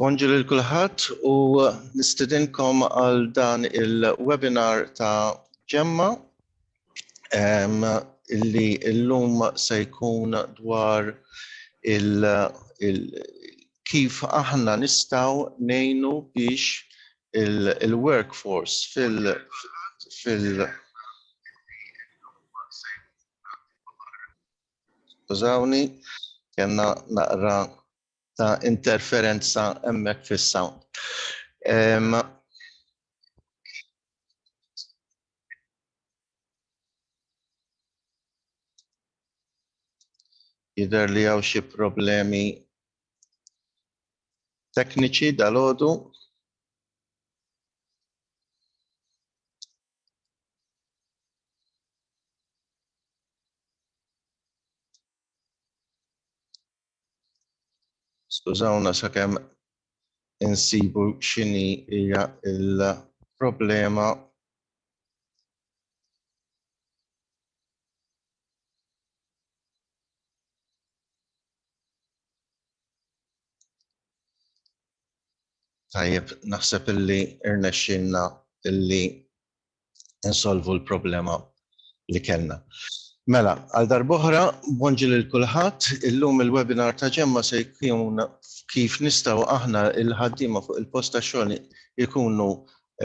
Bonġu lil kulħadd u nistidinkom għal dan il-webinar ta' ġemma illi illum se jkun dwar il, il kif aħna nistaw nejnu biex il-workforce il fil, fil, fil Skużawni, kena naqra ta' interferenza emmek fis-sound. Jider li għaw xie problemi tekniċi dal-ħodu. Skużawna sakemm insibu x'inhi hija l-problema Tajjeb, naħseb illi rnexxielna illi nsolvu l-problema li kellna. Mela, għal darb'oħra, bonġi lil kulħadd, illum il-webinar ta' Ġemma se jkun kif nistgħu aħna l-ħaddiema fuq il-post tax-xogħol ikunu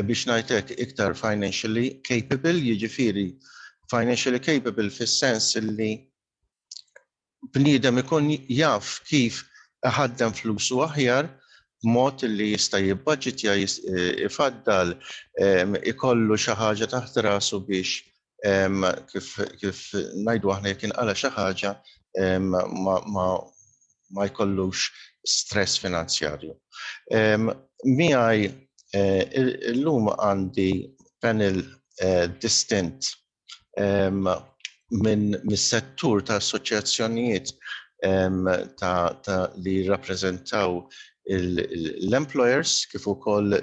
biex ngħid hekk iktar financially capable, jiġifieri financially capable fis-sens illi bniedem ikun jaf kif iħaddem flusu aħjar b'mod li jista' jibbaġitja, ifaddal, ikollu xi ħaġa taħt rasu biex kif ngħidu aħna jekk inqala' xi ħaġa ma jkollux stress finanzjarju. Miegħi llum għandi panel distint minn mis-settur ta' assoċjazzjonijiet ta' li jirrappreżentaw l-employers kif ukoll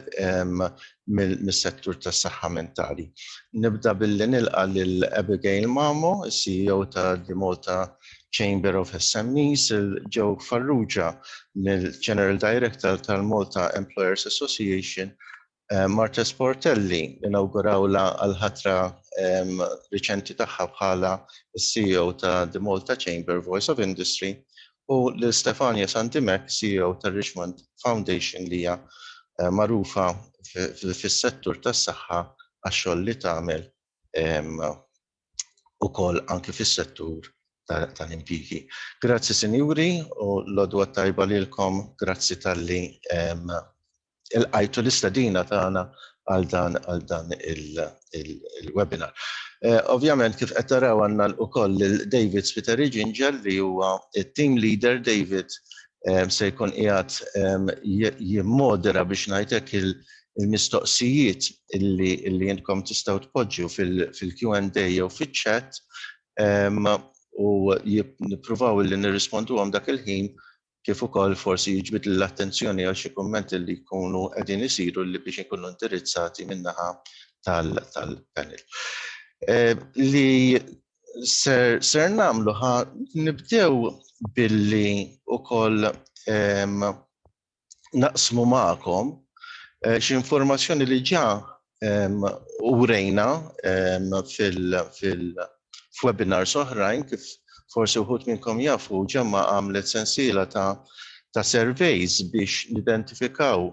mis-settur tas-saħħa mentali. Nibda billi nilqa' lil Abigail Mamo, is-CEO ta' The Malta Chamber of SMEs, lil Joe Farrugia, l-General Director tal-Malta Employers Association, Marta Sportelli inawgurawlha għall-ħatra riċenti tagħha bħala s-CEO ta' The Malta Chamber Voice of Industry u lil Stefania Santimeck, CEO tar-Richmond Foundation li hija magħrufa fis-settur tas-saħħa għax-xogħol li tagħmel ukoll anke fis-settur tal-impjiegi. Grazzi sinjuri u l-għodwa t-tajba lilkom. Grazzi talli ilqajtu l-istedina tagħna għal dan għal dan il-webinar. Ovvjament kif qed taraw għandna ukoll lil David Spiteri Ġinġel li huwa it-team leader David se jkun qiegħed jimmodera biex ngħid hekk il-mistoqsijiet illi intkom tistgħu tpoġġu fil-Q&A jew fiċ-chat u nippruvaw illi nirrisponduhom dak il-ħin kif ukoll forsi jiġbed l-attenzjoni għal xi kummenti li jkunu qegħdin isiru li biex ikunu indirizzati min-naħa tal-panel. Li ser nagħmlu ħa nibdew billi ukoll naqsmu magħkom xi informazzjoni li ġa u rejna fil-webinars oħrajn kif forsi wħud minnkom jafu ġemma għamlet sensiela ta' surveys biex nidentifikaw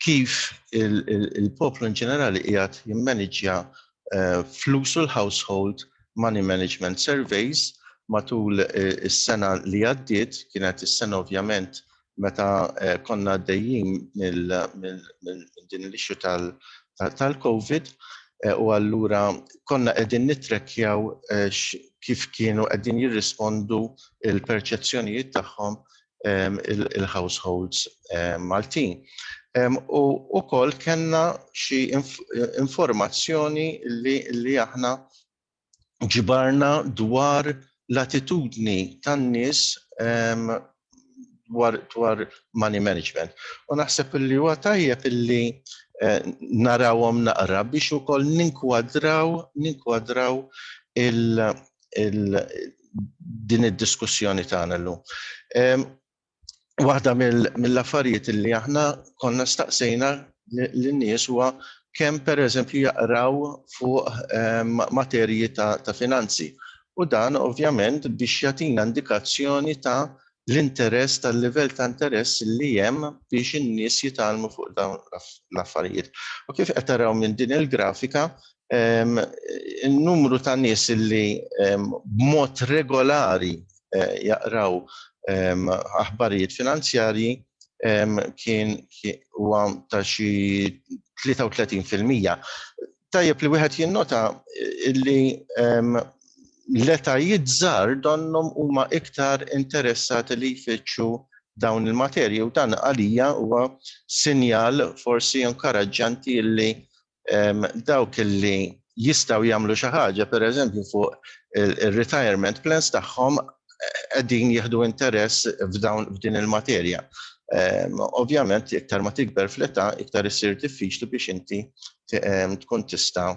kif il-poplu in ġenerali qiegħed jimmaniġja eh, flusu l-household money management surveys matul eh, is-sena li għaddiet, kienet is-sena ovvjament meta eh, konna għaddejjin minn din l-ixxu tal-COVID eh, u allura konna qegħdin nitrekjaw eh, kif kienu qegħdin jirrispondu il-perċezzjonijiet tagħhom ehm, il-households ehm, Maltin. Ehm, u wkoll kellna xi informazzjoni li aħna ġbarna dwar l-attitudni tan-nies dwar dwar money management. U naħseb li huwa tajjeb illi eh, narawhom naqra biex ukoll ninkwadraw ninkwadraw il, il din id-diskussjoni tagħna llum. waħda mill-affarijiet li aħna konna staqsejna lin-nies huwa kemm pereżempju jaqraw fuq ehm, materji ta', ta finanzi. U dan ovvjament biex jagħtina indikazzjoni ta' l-interess tal-livell ta' interess li hemm biex in-nies jitalmu fuq dawn l-affarijiet. U kif qed taraw minn din il-grafika, In-numru ta' nies li b'mod regolari jaqraw aħbarijiet finanzjarji kien huwa ta' xi 33 fil-mija. Tajjeb li wieħed jinnota li l-etajiet żgħar donnhom huma iktar interessati li jfittxu dawn il-materji u dan għalija huwa sinjal forsi inkuraġġanti li dawk li jistgħu jagħmlu xi ħaġa pereżempju fuq ir-retirement plans tagħhom qegħdin jieħdu interess f'dawn f'din il-materja. Ovvjament iktar ma tikber fl-età iktar issir diffiċli biex inti tkun tista'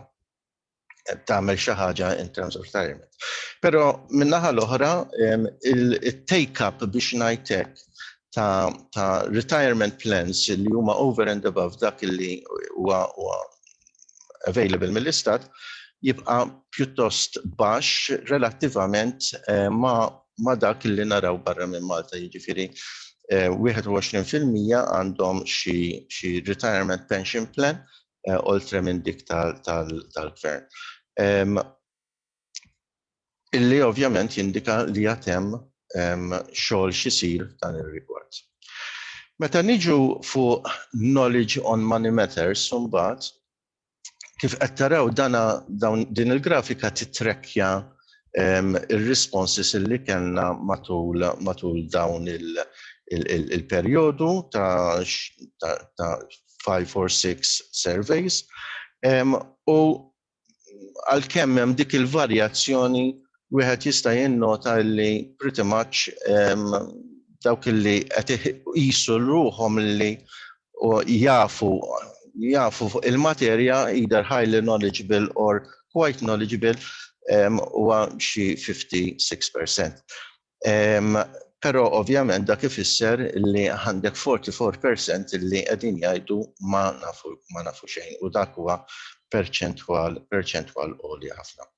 tagħmel xi ħaġa in terms of retirement. Però min-naħa l-oħra il-take up biex ngħidlek ta', ta retirement plans li huma over and above dak li huwa available mill-istat jibqa' pjuttost baxx relattivament eh, ma, ma dak li naraw barra minn Malta, jiġifieri 21% eh, għandhom xi, xi retirement pension plan eh, oltre minn dik tal-gvern. Tal, tal illi ovvjament jindika li għad hemm xogħol x'isir f'dan ir-rigward. Meta niġu fuq Knowledge on Money Matters imbagħad, kif qed taraw dana dawn din il-grafika titrekkja r-responses illi kellna matul matul dawn il- il-perjodu ta' ta' five or six surveys u għalkemm hemm dik il-varjazzjoni wieħed jista' jinnota li pretty much dawk li qed iqisu ruhom li jafu jafu fuq il-materja either highly knowledgeable or quite knowledgeable huwa xi 56%. Però ovvjament dak ifisser li għandek 44% li qegħdin jgħidu ma nafu ma nafu xejn u dak huwa perċentwal perċentwal għolja ħafna.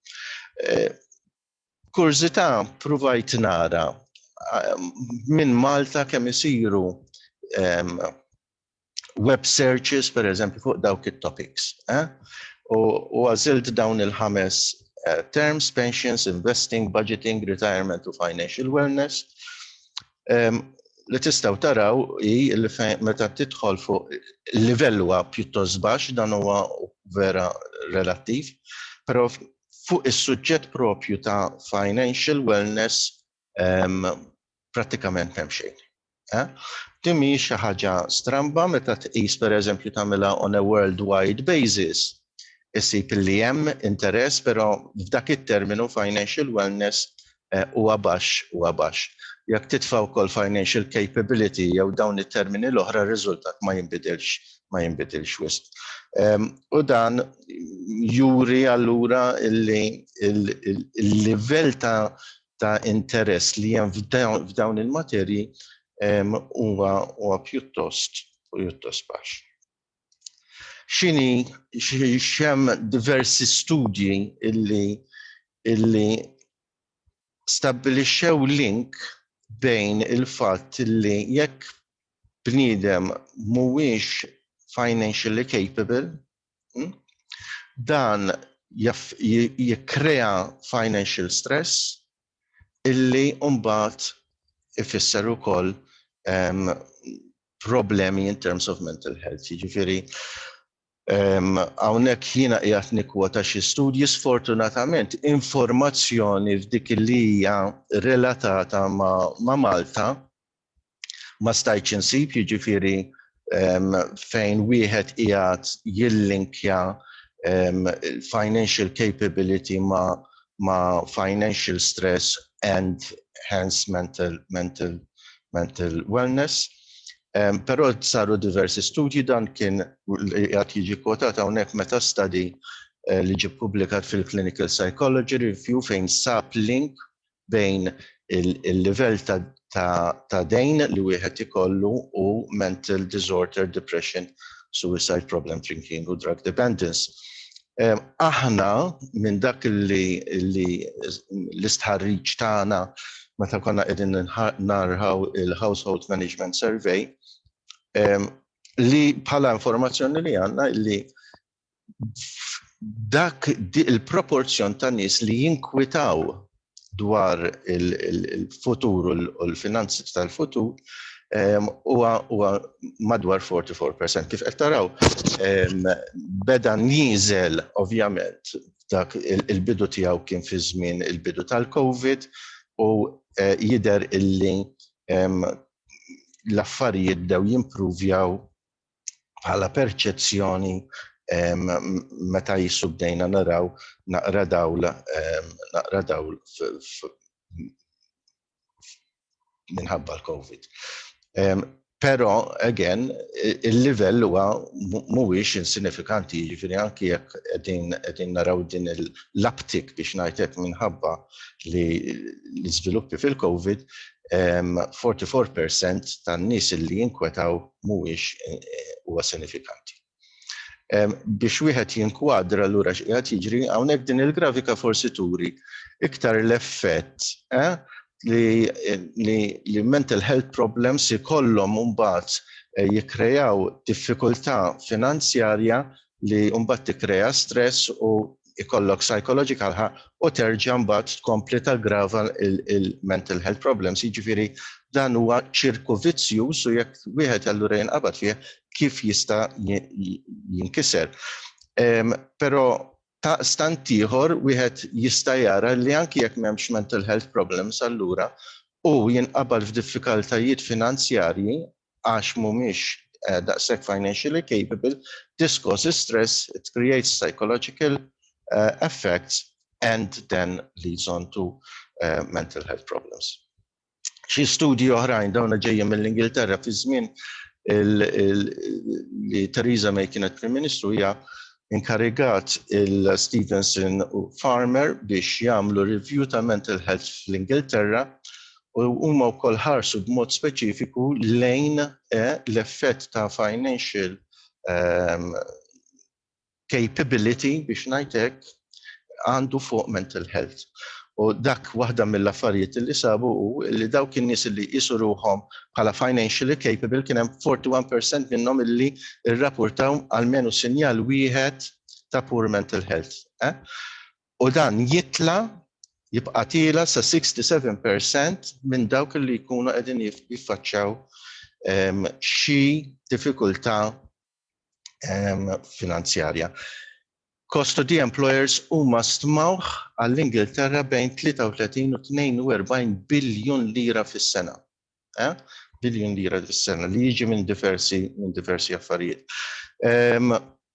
Kurżità pruvajt nara minn Malta kemm isiru web searches, per eżempju, fuq dawk it-topics. Eh? U għazilt dawn il-ħames eh, terms, pensions, investing, budgeting, retirement u financial wellness. Um, li tistaw taraw i li meta tidħol fuq livell huwa pjuttost baxx dan huwa vera relattiv, però fuq is-suġġett propju ta' financial wellness prattikament m'hemm xejn. Din mhijiex xi ħaġa stramba meta tqis pereżempju tagħmilha on a worldwide basis isib li hemm interess, però f'dak it-terminu financial wellness eh, huwa baxx huwa baxx. Jekk titfa' wkoll financial capability jew dawn it-termini l-oħra r-riżultat ma jinbidilx ma jinbidilx wisq. Ehm, u dan juri allura il-livell ta' ta' interess li hemm f'dawn il-materji huwa huwa pjuttost pjuttost baxx. X'inhi x'hemm diversi studji illi illi stabbilixxew link bejn il-fatt li jekk bniedem mhuwiex financially capable, Hmm? Dan jikkrea financial stress illi mbagħad ifisser ukoll um, problemi in terms of mental health. Jiġifieri hawnhekk um, jiena qiegħed nikkwota xi studji sfortunatament informazzjoni f'dik li hija relatata ma', ma Malta ma stajtx insib, jiġifieri fejn wieħed qiegħed jillinkja financial capability ma' financial stress and hence mental mental wellness. Però saru diversi studji, dan kien qiegħed jiġi kwotat hawnhekk meta study li ġie ppubblikat fil-Clinical Psychology Review fejn sab link bejn il-livell ta' dejn li wieħed ikollu u mental disorder, depression, suicide problem, drinking u drug dependence. Aħna minn dak li l-istħarriġ tagħna meta konna qegħdin narħaw il-Household Management Survey li bħala informazzjoni li għandna li dak il-proporzjon ta' nies li jinkwitaw dwar il-futur u l-finanzi tal-futur huwa madwar 44%. Kif qed taraw, beda nieżel ovvjament dak il-bidu tiegħu kien fi żmien il-bidu tal-COVID u jidher illi l-affarijiet bdew jimprovjaw bħala perċezzjoni meta jissu bdejna naraw naqra dawl naqra dawl minħabba l-Covid. Pero, again, il-livell huwa mhuwiex insinifikanti, jiġifieri anki jekk qegħdin naraw din l-uptick biex ngħidlek minħabba li l-iżviluppi fil-COVID, 44% tan-nies li jinkwetaw mhuwiex huwa sinifikanti. Biex wieħed jinkwadra lura x'qiegħed jiġri, hawnhekk din il-grafika forsi turi iktar l-effett eh, li, li, li mental health problems ikollhom mbagħad eh, jikkrejaw diffikultà finanzjarja li mbagħad tikkrea stress u ikollok psychological ħa u terġa' mbagħad tkompli taggrava il-mental health problems. Jiġifieri dan huwa ċirku vizzjuż u jekk wieħed allura jinqabad fih kif jista' jinkiser. Però ta' stant ieħor wieħed jista' jara li anki jekk m'hemmx mental health problems allura u jinqabad f'diffikaltajiet finanzjarji għax mhumiex daqshekk financially capable, this causes stress, it creates psychological effects and then leads on to mental health problems. Xi studji oħrajn, dawna ġejjin mill-Ingilterra fi żmien li Theresa May kienet Prim Ministru hija inkarigat il-Stevenson u Farmer biex jagħmlu review tal-mental health fl-Ingilterra u huma wkoll ħarsu b'mod speċifiku lejn l-effett ta' financial capability biex ngħid hekk għandu fuq mental health. U dak waħda mill-affarijiet li sabu hu li dawk in-nies li jqisu ruħhom bħala financially capable kien hemm 41% minnhom li rrapportaw almenu sinjal wieħed ta' poor mental health. u dan jitla' jibqa' tiela' sa 67 percent minn dawk li jkunu qegħdin jiffaċċjaw xi diffikultà finanzjarja. Cost to the employers huma stmawh għall-Ingilterra bejn 33 u 42 biljun lira fis-sena. Biljun lira fis-sena li jiġi minn diversi affarijiet.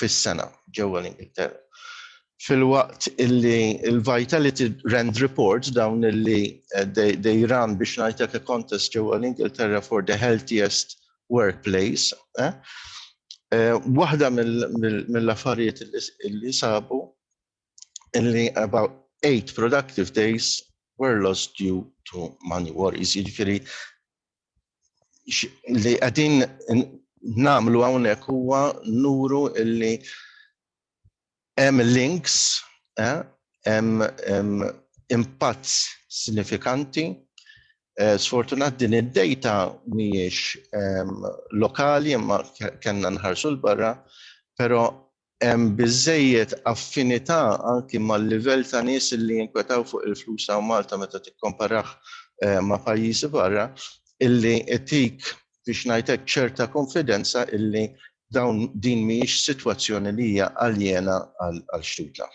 fis-sena ġewwa l-Ingilterra. Filwaqt illi l-Vitality Rand Report dawn illi eh, they run biex ngħidlek a contest ġewwa l-Ingilterra for the healthiest workplace. Eh? Eh, waħda mill-affarijiet illi sabu illi about eight productive days were lost due to money worries. Jiġifieri li qegħdin nagħmlu hawnhekk huwa nuru illi hemm links, eh, hemm impatt sinifikanti. Eh, sfortunat din id-data mhijiex ehm, lokali imma kellna nħarsu l-barra, però Hemm biżżejjed affinità anki mal-livell ta' nies li jinkwetaw fuq il-flus hawn Malta meta tikkomparah ma' pajjiżi barra, illi itik, biex ngħid hekk, ċerta konfidenza illi dawn din mhijiex sitwazzjoni li hija aljena għal xtutna.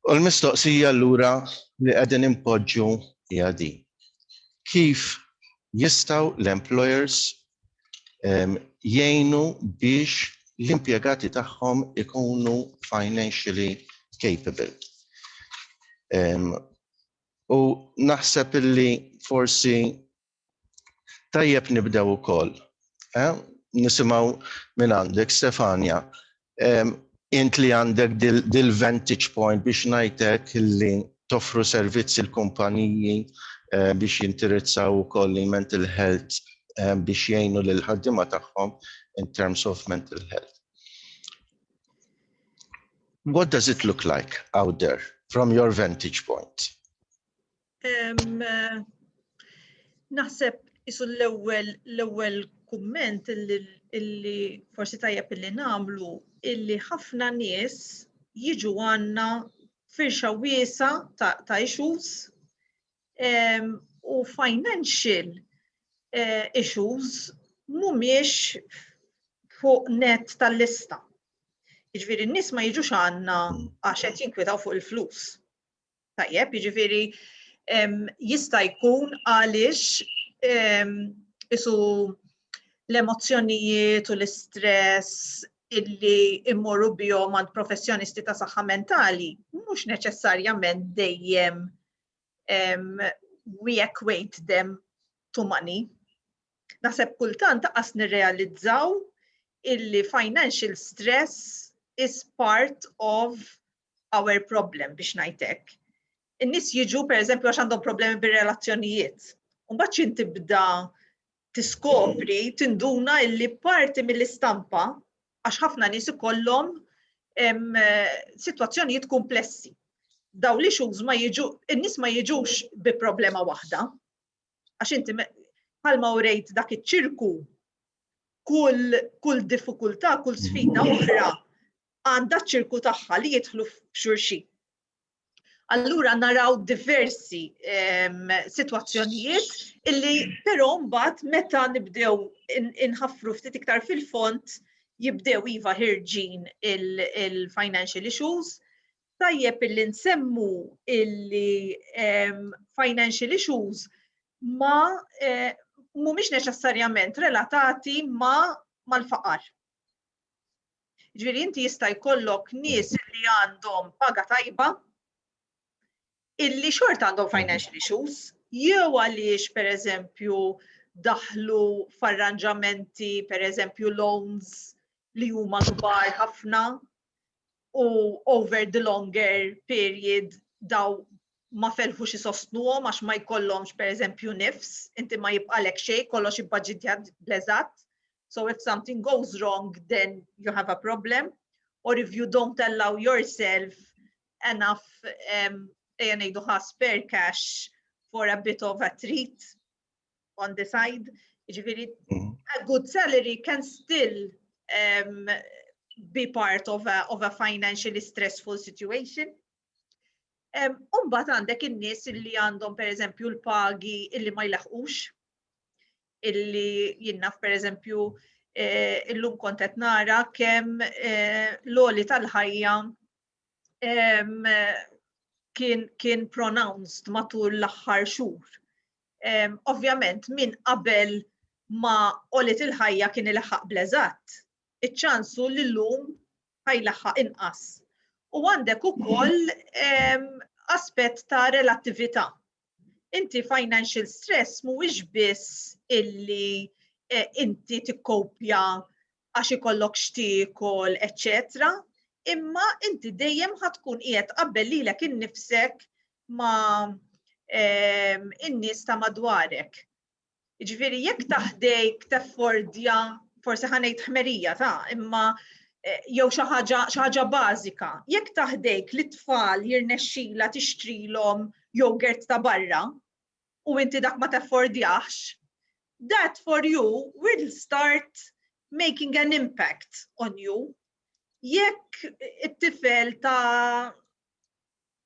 U l-mistoqsija allura li qegħdin inpoġġu hija din, kif jistgħu l-employers jgħinu biex l-impjegati tagħhom ikunu financially capable. U naħseb illi forsi tajjeb nibdew ukoll. Eh? Nisimgħu minn għandek Stefania Int li għandek dil-vantage point biex ngħid hekk li toffru servizz il-kumpaniji biex jintirizzaw ukoll il-mental health biex jgħinu lill-ħaddiema tagħhom in terms of mental health. What does it look like out there from your vantage point? Naħseb isu l-ewwel l-ewwel kumment illi forsi tajjeb illi nagħmlu illi ħafna nies jiġu għandna firxa wiesa ta' issues u financial eh, issues mhumiex fuq net tal-lista. Jiġifieri n-nies ma jiġux għandna għax qed jinkwetaw fuq il-flus. Tajjeb, jiġifieri jista' jkun għaliex isu l-emozzjonijiet u l-istress illi immorru bihom għand professjonisti ta' saħħa mentali mhux neċessarjament dejjem we equate them to money. Naħseb kultant taqas nirrealizzaw illi financial stress is part of our problem biex ngħid hekk. In-nies jiġu pereżempju għax għandhom problemi bir-relazzjonijiet. Mbagħad xi tibda tiskopri, tinduna illi parti mill-istampa għax ħafna nies ikollhom sitwazzjonijiet komplessi. Daw li xux ma jiġu, in-nies ma jiġux bi problema waħda. Għax inti palma u rejt dak iċ-ċirku kull kull diffikultà, kull sfida oħra għandha ċ-ċirku tagħha li jidħlu f'xulxin. Allura naraw diversi ehm, situazzjonijiet illi però mbagħad meta nibdew inħaffru ftit iktar fil-font jibdew iva ħirġin il-financial issues, tajjeb illi nsemmu illi ehm, financial issues ma eh, mhumiex neċessarjament relatati ma mal-faqar. Ġifieri inti jista' jkollok nies li għandhom paga tajba illi xort għandhom financial issues jew għaliex pereżempju daħlu f'arranġamenti pereżempju loans li huma kbar ħafna u over the longer period daw ma felħux isostnuhom għax ma jkollhomx pereżempju nifs, inti ma jibqalek xejn, kollox ibbaġitjat bl-eżatt. So if something goes wrong, then you have a problem. Or if you don't allow yourself enough, um, ejja ngħidu ħa spare cash for a bit of a treat on the side. Ġifieri, mm. a good salary can still um, be part of a, of a financially stressful situation. Umbat għandek in-nies li għandhom per eżempju l-pagi illi ma jlaħqux, illi jinnaf per eżempju eh, illum kontet nara kem eh, l-oli tal-ħajja kien, kien pronounced matul l-aħħar xhur. Ovvjament minn qabel ma olit il-ħajja kien il-ħaq bleżat, iċ-ċans hu li llum ħajlaħħaq inqas. U għandek ukoll ehm, aspett ta' relattività. Inti financial stress mhuwiex biss illi eh, inti tikkopja għax ikollok xtiekol, etc. Imma inti dejjem ħatkun qiegħed qabel lilek innifsek ma' ehm, in-nies ta' madwarek. Jiġifieri jekk taħdejk teffordja forsi ħa ngħid ħmerija ta' imma eh, jew xi ħaġa xi ħaġa bażika. Jekk taħdejk li tfal jirnexxila tixtrilhom jogurt ta' barra u inti dak ma teffordjax, that for you will start making an impact on you. Jekk it-tifel ta'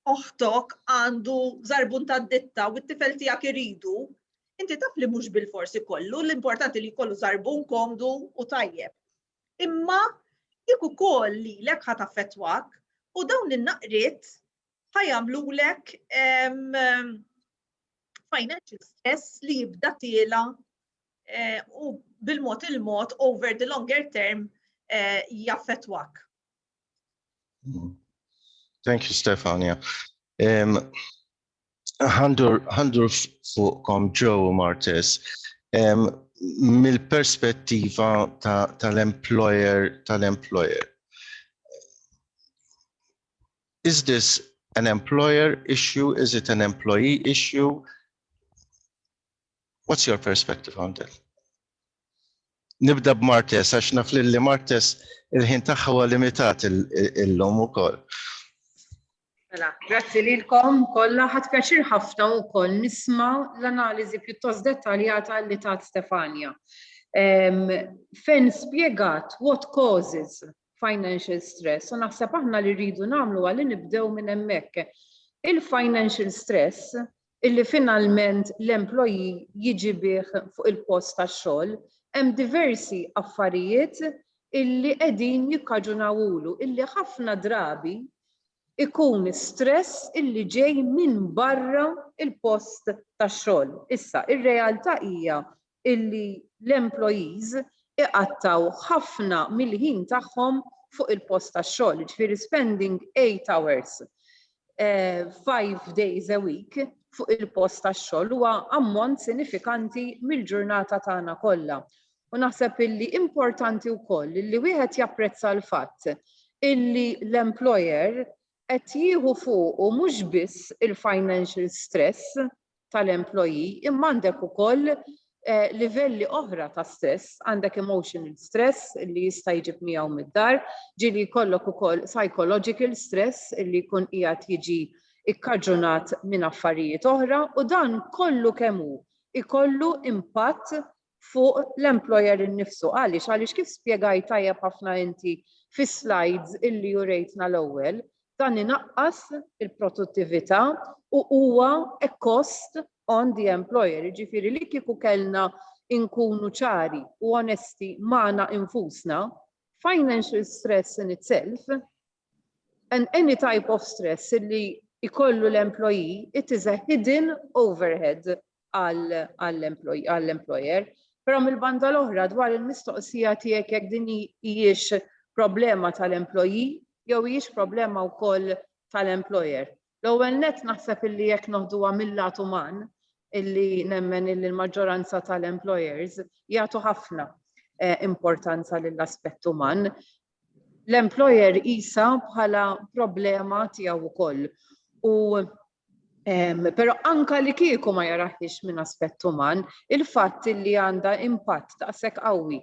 oħtok għandu żarbun tad-ditta u t-tifel tiegħek iridu, inti taf li mhux bilfors ikollu, l-importanti li jkollu żarbun komdu u tajjeb. Imma jekk ukoll lilek ħa taffettwak u dawn in-naqriet ħa jagħmlulek financial stress li jibda tiela eh, u bil-mod il-mod over the longer term eh, jaffettwak. Thank you, Stefania. Um, Għandur fuqkom Joe Martes, um, mill-perspettiva tal-employer ta tal-employer. Is this an employer issue? Is it an employee issue? What's your perspective on that? Nibda b'Martes, għax naf li Martes il-ħin tagħha huwa limitat illum ukoll. Mela, grazzi lilkom kollha ħadd pjaċir ħafna wkoll nisma' l-analiżi pjuttost dettaljata li tat Stefania. Fejn spjegat what causes financial stress u naħseb aħna li rridu nagħmlu għalli nibdew minn hemmhekk. Il-financial stress illi finalment l-employee jiġi bih fuq il-post tax-xogħol, hemm diversi affarijiet illi qegħdin jikkaġunawlu illi ħafna drabi ikun stress illi ġej minn barra il-post tax-xogħol. Issa, ir-realtà hija illi l-employees iqattgħu ħafna mill-ħin tagħhom fuq il-post tax-xogħol, jiġifieri spending eight hours five days a week fuq il-post tax-xogħol huwa ammont sinifikanti mill-ġurnata tagħna kollha. U naħseb illi importanti wkoll li wieħed japprezza l-fatt illi l-employer qed jieħu fuqu mhux biss il-financial stress tal-employee imma għandek ukoll livelli oħra ta' stress, għandek emotional stress li jista' jġib miegħu mid-dar, ġieli jkollok ukoll psychological stress li jkun qiegħed jiġi ikkaġunat minn affarijiet oħra u dan kollu kemm hu ikollu impatt fuq l-employer innifsu. Għaliex? Għaliex kif spjegajt tajjeb ħafna inti fis-slides illi urejtna l-ewwel, dan inaqqas il-produttività u huwa a cost on the employer. Jiġifieri li kieku kellna nkunu ċari u onesti magħna infusna, financial stress in itself and any type of stress li jkollu l-employee, it is a hidden overhead għall-employer. Però mill-banda l-oħra dwar il-mistoqsija tiegħek jekk din hijiex problema tal-employee jew hijiex problema wkoll tal-employer. L-ewwel nett naħseb illi jekk noħduha mil-lat uman, illi nemmen illi l-maġġoranza tal-employers jagħtu ħafna importanza lill-aspett uman, l-employer iqisha bħala problema tiegħu wkoll. U Pero anka li kieku ma jaraħiex minn aspett uman, il-fatt li għandha impatt daqshekk qawwi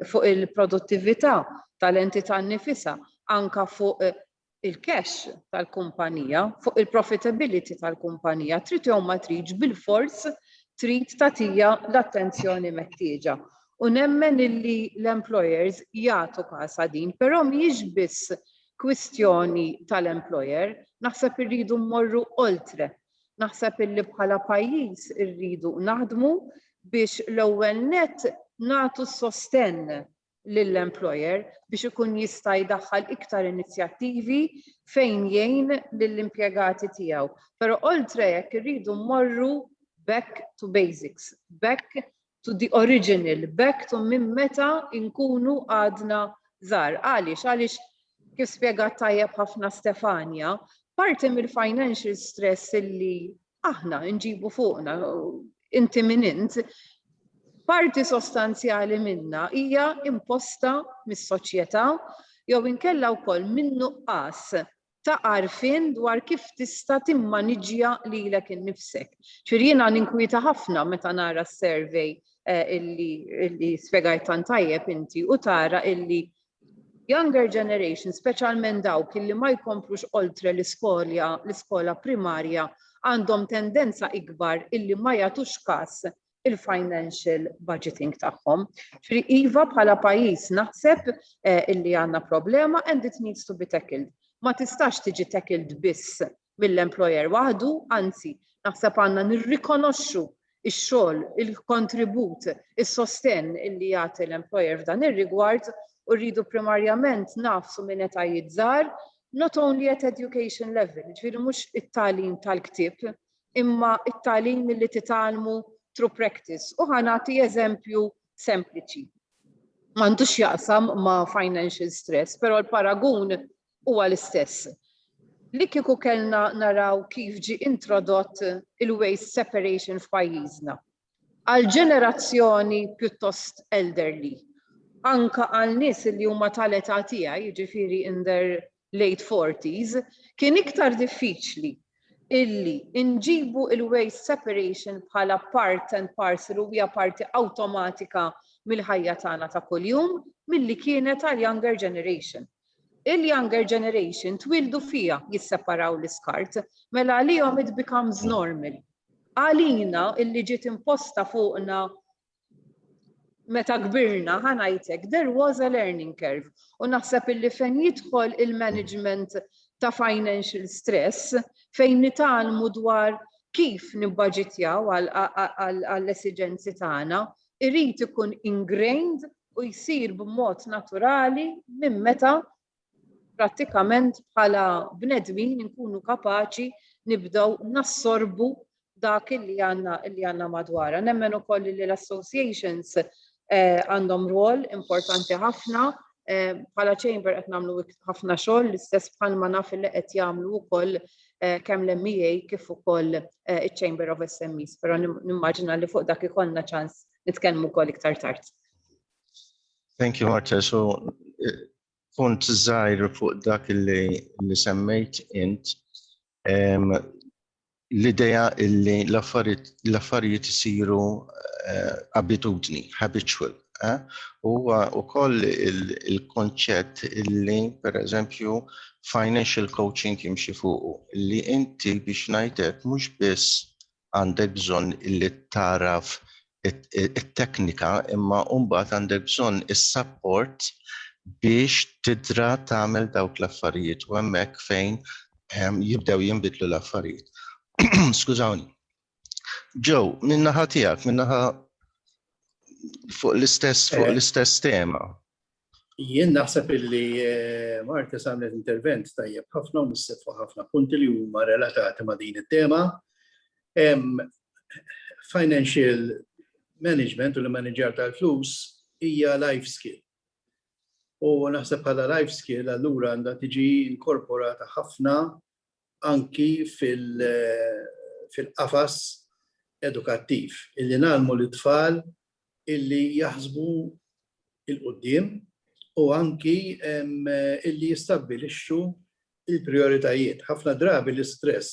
fuq il-produttività tal-entità nifisa, anka fuq il-cash tal-kumpanija, fuq il-profitability tal-kumpanija, trid jew ma tridx bilfors trid tagħtiha l-attenzjoni meħtieġa. U nemmen illi l-employers jagħtu kasha din, però mhijiex biss kwistjoni tal-employer, naħseb irridu mmorru oltre. Naħseb illi bħala pajjiż irridu naħdmu biex l-ewwel nett nagħtu s-sostenn lill-employer biex ikun jista' jdaħħal iktar inizjattivi fejn jgħin lill-impjegati tiegħu. Però oltre hekk irridu mmorru back to basics, back to the original, back to minn meta nkunu għadna żgħar. Għaliex? Għaliex kif spjegat tajjeb ħafna Stefania, parti mill-financial stress li aħna nġibu fuqna inti minn int, parti sostanzjali minna hija imposta mis-soċjetà jew inkella wkoll min-nuqqas ta' għarfien dwar kif tista' timmaniġġja lilek innifsek. Ġifieri jiena ninkwieta ħafna meta nara s-survey eh, illi spjegajt tant tajjeb inti u tara illi Younger generation, speċjalment dawk illi ma jkomplux oltre l-iskolja, l-iskola primarja, għandhom tendenza ikbar illi ma jagħtux kas il-financial budgeting tagħhom. Ġifieri iva bħala pajjiż naħseb eh, illi għandna problema and it needs to be tackled. Ma tistax tiġi tackled biss mill-employer waħdu, anzi, naħseb għandna nirrikonoxxu x-xogħol, il-kontribut, is-sostenn li jagħti l-employer f'dan ir-rigward u rridu primarjament ngħaffsu minn etajiet żgħar, not only at education level, jiġifieri mhux it-tagħlim tal-ktieb, imma t-tagħlim milli titgħallmu through practice. U ħa nagħti eżempju sempliċi. M'għandux jaqsam ma' financial stress, però l-paragun huwa l-istess. Li kieku kellna naraw kif ġie introdott il-waste separation f'pajjiżna. Għal ġenerazzjoni pjuttost elderly, anke għal nies li huma tal-età tiegħi, jiġifieri in their late forties, kien iktar diffiċli illi nġibu il-waste separation bħala part and parcel u hija parti awtomatika mill-ħajja tagħna ta' kuljum milli kienet għall-younger generation. il-younger generation twieldu fiha jisseparaw l-iskart, mela għalihom it becomes normal. Għalina illi ġiet imposta fuqna meta kbirna, ħa ngħid hekk, there was a learning curve u naħseb illi fejn jidħol il-management ta' financial stress fejn nitgħallmu dwar kif nibbaġitjaw għall-esiġenzi tagħna, irid ikun ingrained u jsir b'mod naturali minn meta prattikament bħala bnedmin inkunu kapaċi nibdew nassorbu dak li għandna li għandna madwarha. Nemmen ukoll li l-associations eh, għandhom rwol importanti ħafna eh, bħala chamber qed nagħmlu ħafna xogħol l-istess bħalma naf li qed jagħmlu wkoll kemm l-MEA kif ukoll iċ-Chamber of SMEs, però nimmaġina li fuq dak ikollna ċans nitkellmu wkoll iktar tard. Thank you, Marta. So, punt żgħir fuq dak li semmejt int, l-idea li l-affarijiet isiru abitudni, habitual. Eh? Huwa wkoll il-konċett illi pereżempju financial coaching jimxi fuqu li inti biex ngħidlek mhux biss għandek bżonn illi taraf it-teknika imma mbagħad għandek bżonn is-support biex tidra tagħmel dawk l-affarijiet u hemmhekk fejn ehm, jibdew jinbidlu l-affarijiet. Skużawni. Joe, minnaħa tijak, minnaħa fuq l-istess, fuq eh. l-istess tema. Jien naħseb illi eh, Marta samlet intervent tajjeb ħafna u nissib fuq ħafna punti li huma relatati ma' din it-tema. Financial management u l-manager tal-flus hija life skill. U naħseb bħala life skill allura għandha tiġi inkorporata ħafna anki fil-qafas edukattiv, illi ngħallmu lit-tfal illi jaħsbu 'l quddiem u anki illi jistabbilixxu l-prijoritajiet. Ħafna drabi l-istress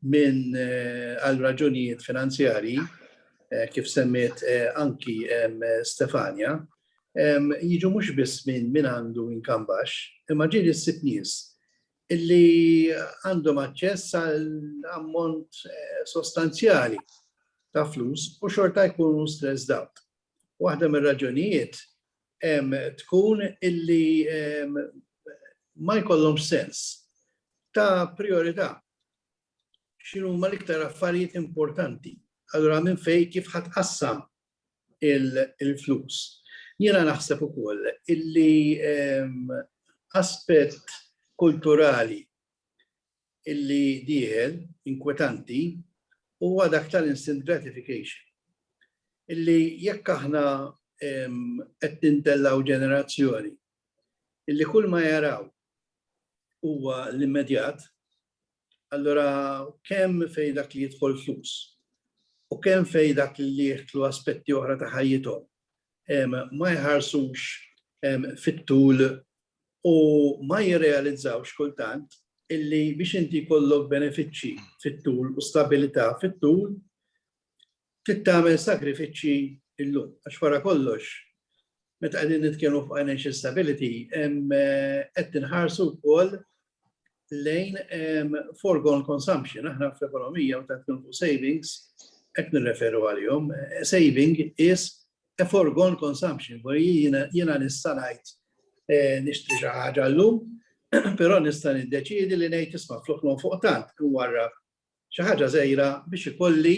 minn għal raġunijiet finanzjarji eh, kif semmiet eh, anki Stefania, jiġu mhux biss minn min għandu inkambax, imma ġieli s-sitt nies illi għandhom aċċess għal ammont eh, sostanzjali ta' flus u xorta jkunu stress out. Waħda mir raġunijiet tkun illi ma jkollhomx sens ta' priorità. X'inhuma l-iktar affarijiet importanti? Allura minn fejn kif ħa tqassam il-flus? Jiena naħseb ukoll illi aspett kulturali illi dieħel, inkwetanti, huwa dak tal-instant gratification. Illi jekk aħna qed nintellgħu ġenerazzjoni illi kull ma jaraw huwa l-immedjat, allura kemm fejn dak li jidħol flus u kemm fejn dak li jieħdlu aspetti oħra ta' ħajjithom ma jħarsux fit-tul u ma jirrealizzawx kultant illi biex inti kollok benefiċċji fit-tul u stabilità fit-tul tittamel sagrifiċċji illum. Għax wara kollox, meta qegħdin nitkellmu fuq financial stability, qed tinħarsu wkoll lejn foregone consumption. Aħna fl-ekonomija meta tkun savings qed nirreferu għalihom. Saving is a foregone consumption, where jiena nista' ngħid eh, nixtri xi ħaġa llum, però nista' niddeċiedi li ngħid isma' flok nonfoq tant warra xi ħaġa żejra biex ikolli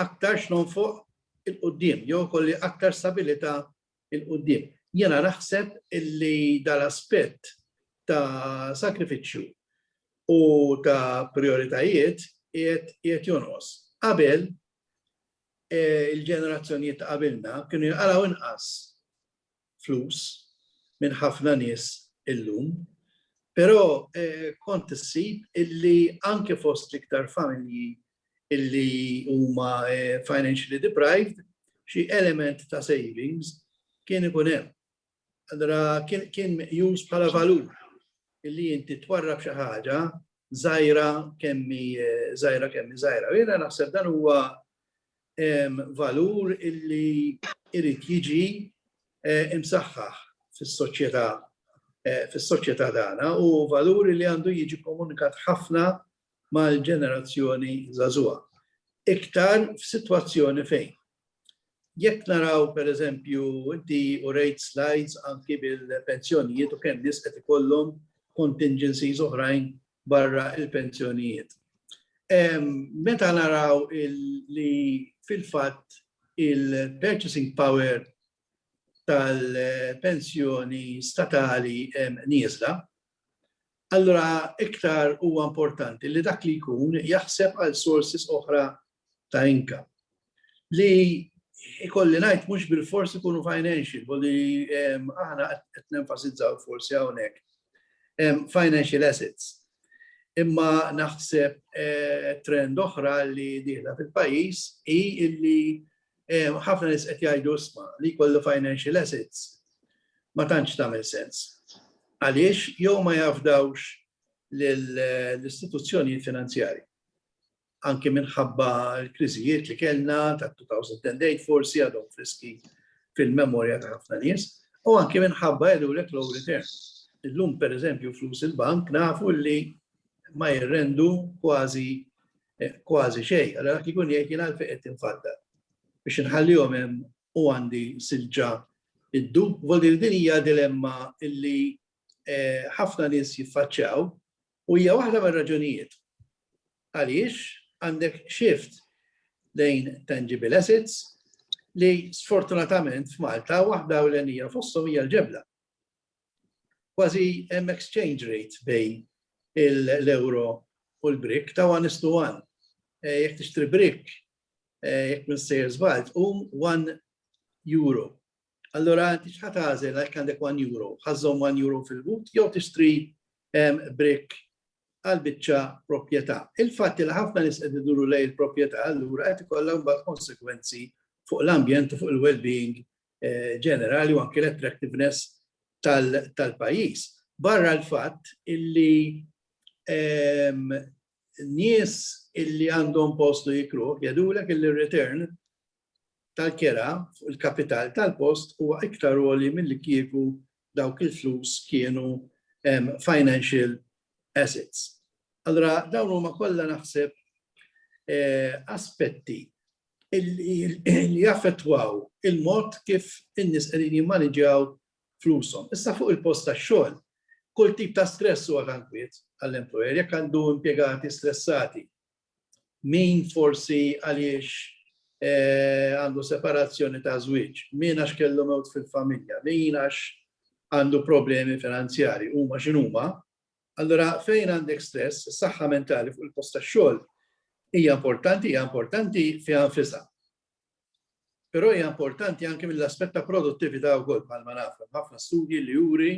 aktar x'nonfoq il-qudiem jew kolli aktar stabilità il-qudiem. Jena naħseb illi dal-aspett ta' sakrifiċċju u ta' prioritajiet qiegħed jonqos. Qabel e, il-ġenerazzjonijiet ta' qabilna kienu jqalaw inqas flus minn ħafna nies illum, però e, kont issib illi anke fost l-iktar familji illi huma financially deprived, xi element ta' savings kien ikun hemm. Allura kien meqjus bħala valur illi inti twarrab xi ħaġa żgħira kemmi żgħira kemmi żgħira. Jiena naħseb dan huwa valur illi irid jiġi imsaħħaħ fis-soċjetà fis-soċjetà tagħna u valur li għandu jiġi komunikat ħafna mal-ġenerazzjoni żagħżugħa. Iktar f'sitwazzjoni fejn jekk naraw pereżempju inti urejt slides anki bil-pensjonijiet u kemm nies qed ikollhom contingencies oħrajn barra l-pensjonijiet. Meta naraw li fil-fatt il-purchasing power tal-pensjoni statali hemm nieżla, allura iktar huwa importanti li dak li jkun jaħseb għal sources oħra ta' income. Li ikolli ngħid mhux bil-fors ikunu financial, u li aħna qed nenfasizzaw forsi hawnhekk financial assets. Imma naħseb trend oħra li dieħla fil-pajjiż hi illi ħafna nies qed jgħidu isma' li jkollu financial assets ma tantx tagħmel sens. Għaliex jew ma jafdawx l-istituzzjonijiet finanzjarji. Anki minħabba l-kriżijiet li kellna ta' 2008 forsi għadhom friski fil-memorja ta' ħafna nies, u anki minħabba jgħidulek low return. Illum pereżempju flus il-bank nafu li ma jirrendu kważi kważi xejn. Allora dak ikun jgħid jien għalfejn qed tinfadda. Biex inħallihom hemm u għandi silġa id-dub, vol din hija dilemma illi eh, ħafna nies jiffaċċjaw u hija waħda mir-raġunijiet għaliex għandek shift lejn tangible assets li sfortunatament f'Malta waħda u l-enija fossom hija l-ġebla. kważi hemm exchange rate bejn l-euro u l-brick ta' one is to one. Eh, jekk tixtri brick, eh, jekk minn sejr żbalt, um one euro. Allora, inti xħat għazel għal għandek 1 euro, ħazzom 1 euro fil-but, jew tixtri brick għal biċċa proprjetà. Il-fatt li ħafna nis qed iduru lej il-proprjetà allura qed ikollha mbagħad konsekwenzi fuq l-ambjent u fuq il-well-being ġenerali u anke l-attractiveness tal-pajjiż. Barra l-fatt illi nies illi għandhom postu jikru jadulek illi return tal-kera fuq il-kapital tal-post huwa iktar għoli mill-li kieku dawk il-flus kienu financial assets. Allora, dawn huma kollha naħseb eh, aspetti li jaffettwaw il-mod kif in-nies qegħdin jimmaniġġjaw flushom. Issa fuq il-post tax-xogħol, kull tip ta' stress huwa ta' nkwiet għall-employer, jekk għandu impjegati stressati, min forsi għaliex eh, għandu separazzjoni ta' żwieġ, min għax kellu mewt fil-familja, min għax għandu problemi finanzjari, huma x'inhuma, Allura fejn għandek stress, is-saħħa mentali fuq il-post tax-xogħol hija importanti, hija importanti fiha nfisha. Però hija importanti anke mill-aspett ta' produttività wkoll bħalma nafu. Ħafna studji li juri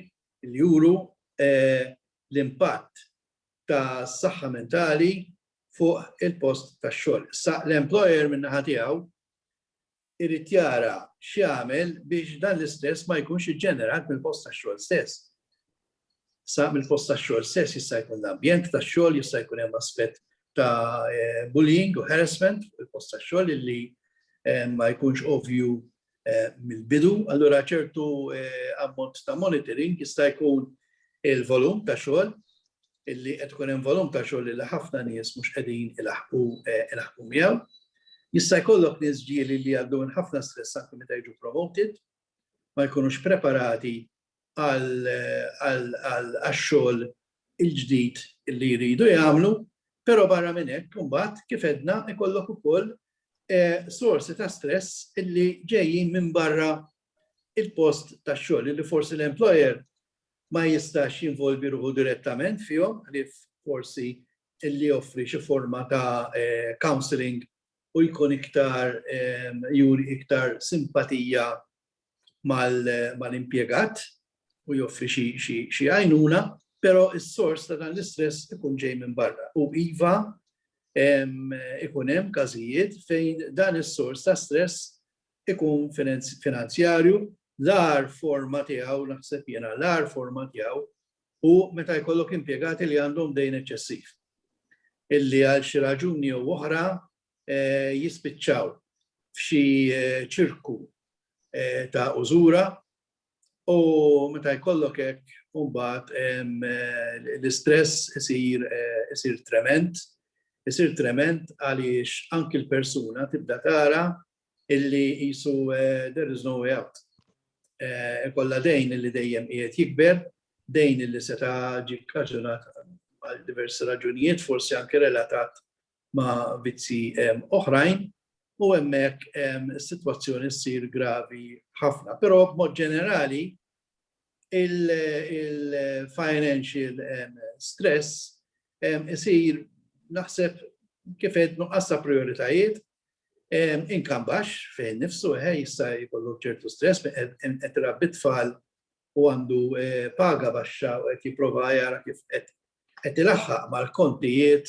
li juru eh, l-impatt ta' saħħa mentali fuq il-post tax-xogħol. Sa l-employer min-naħa tiegħu irid jara x'jagħmel biex dan l-istress ma jkunx iġġenerat mill-post tax-xogħol stess. Sa mill-post tax-xogħol stess jista' jkun l-ambjent tax-xogħol, jista' jkun hemm aspett ta' bullying u harassment fuq il-post tax-xogħol illi ma jkunx ovvju mill-bidu, allura ċertu ammont ta' monitoring jista' jkun il-volum ta' xogħol illi qed ikun hemm volum ta' xogħol illi ħafna nies mhux qegħdin ilaħħqu ilaħħqu miegħu. Jista' jkollok nies ġieli li jgħaddu minn ħafna stress anke meta jiġu promoted, ma jkunux preparati għax-xogħol il-ġdid li jridu jagħmlu, però barra minn hekk imbagħad kif edna ikollok ukoll sorsi ta' stress illi ġejjin minn barra il-post tax-xogħol li forsi l-employer ma jistax jinvolvi ruħu direttament fihom ħlief forsi li joffri xi forma ta' counselling u jkun iktar juri iktar simpatija mal-impjegat u joffri xi għajnuna, però s-sors ta' dan l-istress ikun ġej minn barra. U iva, ikun hemm każijiet fejn dan is-sors ta' stress ikun finanzjarju, l-agħar forma tiegħu, naħseb jiena, l-agħar forma tiegħu hu meta jkollok impjegati li għandhom dejn eċċessiv, illi għal xi raġuni jew oħra jispiċċaw f'xi ċirku ta' użura u meta jkollok hekk mbagħad l-istress isir trement, isir trement għaliex anki l-persuna tibda tara illi qisu there is no way out. Ikolla dejn illi dejjem qiegħed jikber, dejn illi seta' ġi kkaġunat għal diversi raġunijiet, forsi anke relatat ma' vizzi oħrajn, u hemmhekk is-sitwazzjoni ssir gravi ħafna. Però b'mod ġenerali il-financial stress isir naħseb kif qed nuqqas ta' prijoritajiet Inkam baxx fih innifsu, eħe, jista' jkollu ċertu stress, qed irabbi t-tfal u għandu paga baxxa u qed jipprova jara kif qed ilaħħaq mal-kontijiet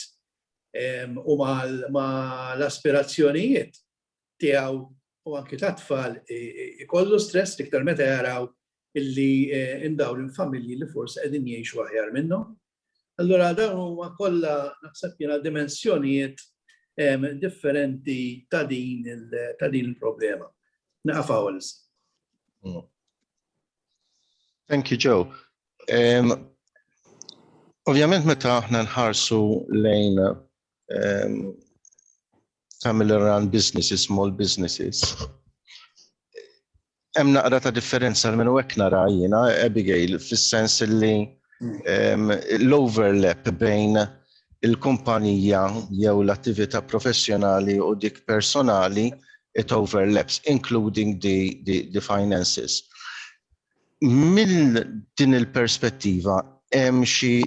u mal-aspirazzjonijiet tiegħu u anki tat-tfal ikollu stress l-iktar meta jaraw illi hemm dawn il-familji li forsi qegħdin jgħixu aħjar minnhom. Allura dawn huma kollha naħseb jiena dimensjonijiet differenti ta' din ta' din il-problema. Naqaf hawn issa. Mm. Thank you, Joe. Um, Ovvjament meta aħna nħarsu lejn um, family run businesses, small businesses. Hemm naqra ta' differenza minn hekk nara jiena Abigail fis-sens li mm. l-overlap bejn il-kumpanija jew l-attività professjonali u dik personali it overlaps, including the, the, the finances. Mill din il-perspettiva, hemm xi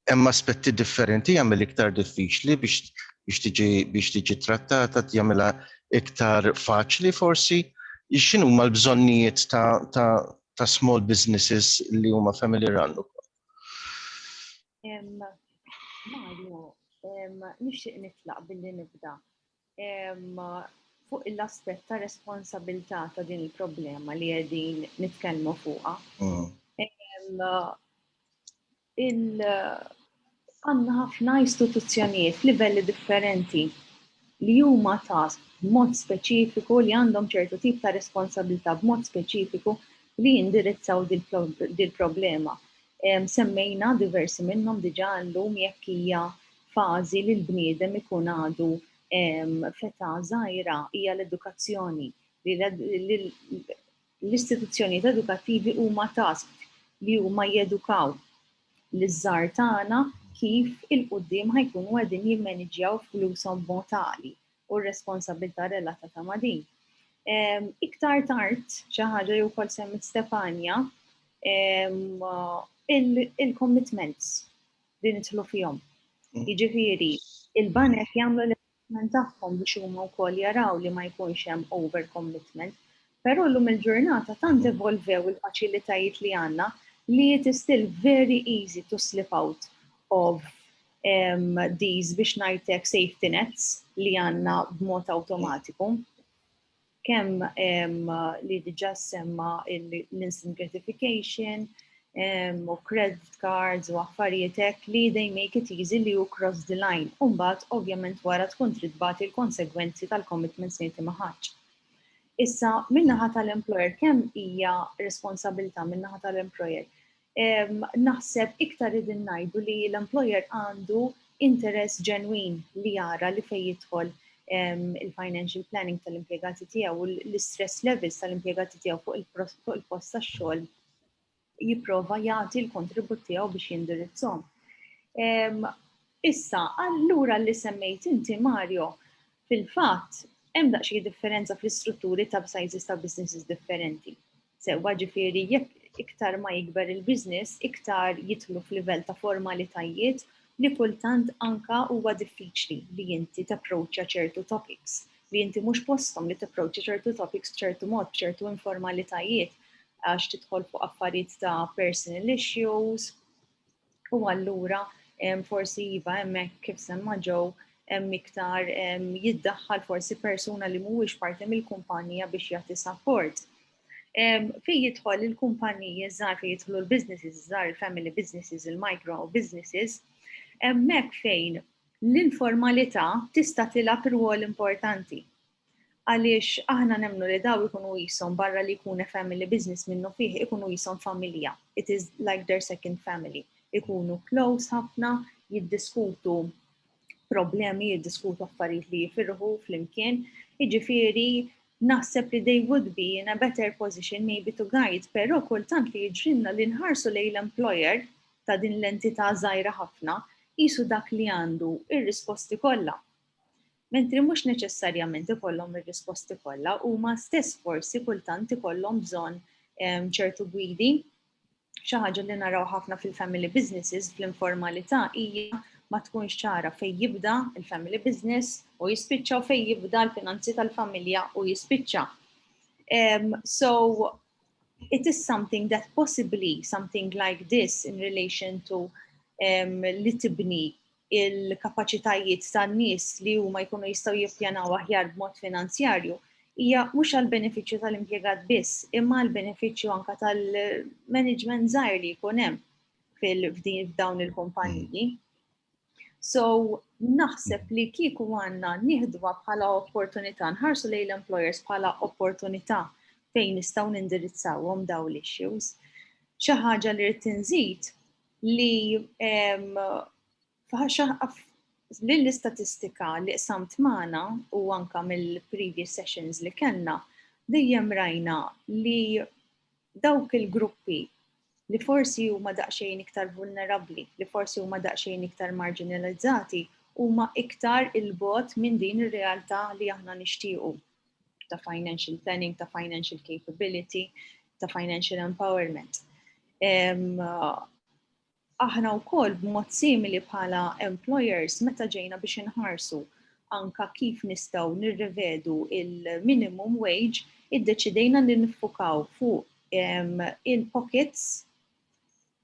Hemm aspetti differenti jagħmel iktar diffiċli biex biex tiġi biex tiġi trattata jagħmilha iktar faċli forsi. X'inhuma l-bżonnijiet ta', ta, ta' small businesses li huma family run ukoll? Mario, nixtieq nitlaq billi nibda fuq l-aspett ta' responsabilità ta' din il-problema li qegħdin nitkellmu fuqha. Mm. Għandna ħafna istituzzjonijiet f'livelli differenti li huma ta' mod speċifiku li għandhom ċertu tip ta' responsabilità b'mod speċifiku li jindirizzaw dil-problema. Semmejna diversi minnhom diġà llum jekk hija fażi li l-bniedem ikun għadu f'età żgħira hija l-edukazzjoni li l-istituzzjonijiet edukattivi huma tasked li huma jedukaw liż-żgħar tagħna kif il-quddiem ħajkunu qegħdin jimmaniġġjaw flushom b'mod għaqli u r-responsabbiltà relatata ma' din. Iktar tard, xi ħaġa li wkoll semmit Stefania, il-commitments li nidħlu fihom. Mm. Jiġifieri, il-banek jagħmlu l-investment tagħhom biex huma wkoll jaraw li ma jkunx hemm over commitment. Però llum il-ġurnata tant mm. evolvew il-faċilitajiet li għandna li it is still very easy to slip out of um, these biex ngħidlek safety nets li għandna b'mod awtomatiku. kemm li diġa semma l-instant gratification, u credit cards u affarijiet hekk li they make it easy li you cross the line. Umbat, ovvjament wara tkun trid bagħti l-konsegwenzi tal-commitments li inti ma ħadx. Issa, minnaħa tal-employer, kemm hija responsabilità minnaħa tal-employer naħseb iktar qegħdin ngħidu li l-employer għandu interess ġenwin li jara li fejn jidħol il-financial planning tal-impjegati tiegħu u l-stress levels tal-impjegati tiegħu fuq il-post tax-xogħol jipprova jagħti l-kontribut tiegħu biex jindirizzhom. Issa, allura li semmejt inti Mario, fil-fatt hemm daqsxejn differenza fl-istrutturi ta' sizes ta' businesses differenti. Sewwa ġifieri jekk iktar ma jikber il-business, iktar jidħlu f'livell ta' formalitajiet li kultant anka huwa diffiċli li inti tapproċċja ċertu topics, li inti mhux posthom li tapproċċja ċertu topics b'ċertu mod, b'ċertu informalitajiet għax tidħol fuq affarijiet ta' personal issues, U allura forsi iva hemmhekk kif semma ġew hemm iktar jiddaħħal forsi persuna li mhuwiex parti mill-kumpanija biex jagħti support. Fej jidħol il-kumpaniji żgħar fej jidħlu l-businesses żgħar, il-family businesses, il-micro businesses, hemmhekk fejn l-informalità tista' tilgħab rwol importanti. Għaliex aħna nemmnu li daw ikunu qishom barra li jkun a family business minnu fih ikunu qishom familja, it is like their second family. Ikunu close ħafna, jiddiskutu problemi, jiddiskutu affarijiet li jifirħu flimkien, jiġifieri naħseb li they would be in a better position maybe to guide, pero kultant li jġrinna li nħarsu lej l-employer ta' din l-entità zaħira ħafna, jisu dak li għandu ir-risposti kollha. Mentri mhux neċessarjament ikollhom ir-risposti kollha, huma stess forsi kultant ikollhom bżonn ehm, ċertu gwidi. Xi ħaġa li naraw ħafna fil-family businesses fl-informalità hija ma tkunx ċara fejn jibda il-family business u jispiċċa u fejn jibda l-finanzi tal-familja u jispiċċa. Um, so, it is something that possibly something like this in relation to um, li tibni il-kapaċitajiet tan-nies li huma jkunu jistgħu jippjanaw aħjar b'mod finanzjarju hija mhux għal benefiċċju tal-impjegat biss, imma għal benefiċċju anka tal-management żgħir li jkun hemm fil-fdin f'dawn il-kumpaniji. So, naħseb li kieku għanna nieħduha bħala opportunità, nħarsu lejn l-employers bħala opportunità fejn nistgħu nindirizzawhom daw l-issues. Xi ħaġa li rrid tinżid li lill-istatistika li qsamt magħna u anka mill-previous sessions li kellna dejjem rajna li dawk il-gruppi li forsi huma daqsxejn iktar vulnerabbli, li forsi huma daqsxejn iktar marginalizzati, huma iktar il-bot minn din ir-realtà li aħna nixtiequ ta' financial planning, ta' financial capability, ta' financial empowerment. Aħna u koll b'mod simili bħala employers meta ġejna biex inħarsu anka kif nistaw nirrevedu il-minimum wage, id-deċidejna li nifukaw fuq il-pockets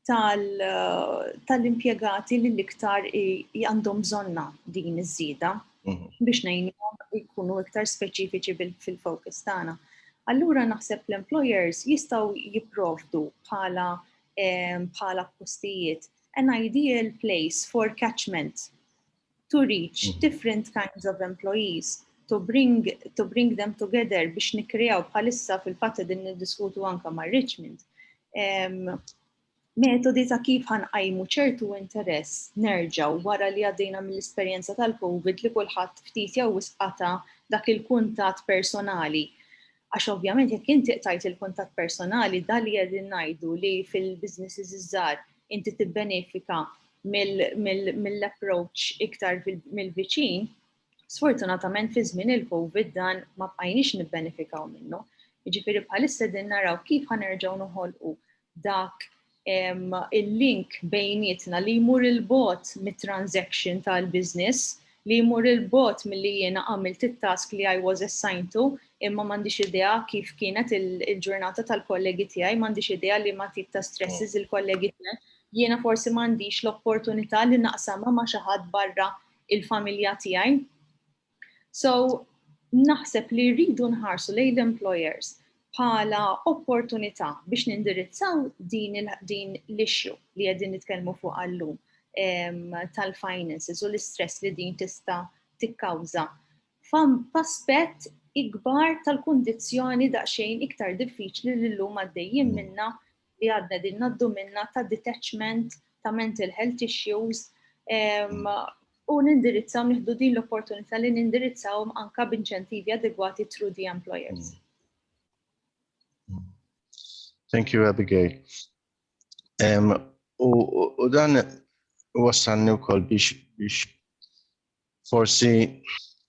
tal-impjegati li l-iktar għandhom bżonna din iż-żieda mhm. biex ngħinhom jkunu iktar speċifiċi fil-focus tagħna. Allura naħseb l-employers jistgħu jipprovdu bħala bħala postijiet an ideal place for catchment to reach mhm. different kinds of employees, to bring, to bring them together biex nikrijaw bħalissa fil-fatta din niddiskutu anka ma' Richmond. metodi ta' kif ħanqajmu ċertu interess nerġaw wara li għaddejna mill-esperjenza tal-COVID li kulħadd ftit jew wisqata dak il-kuntat personali. Għax ovvjament jekk inti qtajt il-kuntatt personali dan li qegħdin ngħidu li fil-businesses iż-żgħar inti tibbenefika mill-approach iktar mill-viċin, sfortunatament fi żmien il-COVID dan ma bqajniex nibbenefikaw minnu. Jiġifieri bħalissa din naraw kif ħanerġgħu noħolqu dak il-link bejnietna li jmur il-bot mit-transaction tal-business, li jmur il-bot mill-li jiena għamilt it-task li I was assigned to, imma m'għandix idea kif kienet il-ġurnata tal-kollegi tiegħi, m'għandix idea li ma tip ta' stresses oh. il-kollegi tiegħi. Jiena forsi m'għandix l-opportunità li naqsamha ma' xi ħadd barra il-familja tiegħi. So, naħseb li rridu nħarsu lejn l-employers bħala opportunità biex nindirizzaw din l-issue li għedin nitkellmu fuq għallum tal-finances u l-istress li din tista' tikkawża f'aspett ikbar tal-kundizzjoni daqsxejn iktar diffiċli li llum għaddejjin minna li għadna qegħdin ngħaddu minnha ta' detachment ta' mental health issues u nindirizzaw nieħdu din l-opportunità li nindirizzawhom anka b'inċentivi adegwati through the employers. Mm. Thank you, Abigail. Um, u, u dan wassalni wkoll biex biex forsi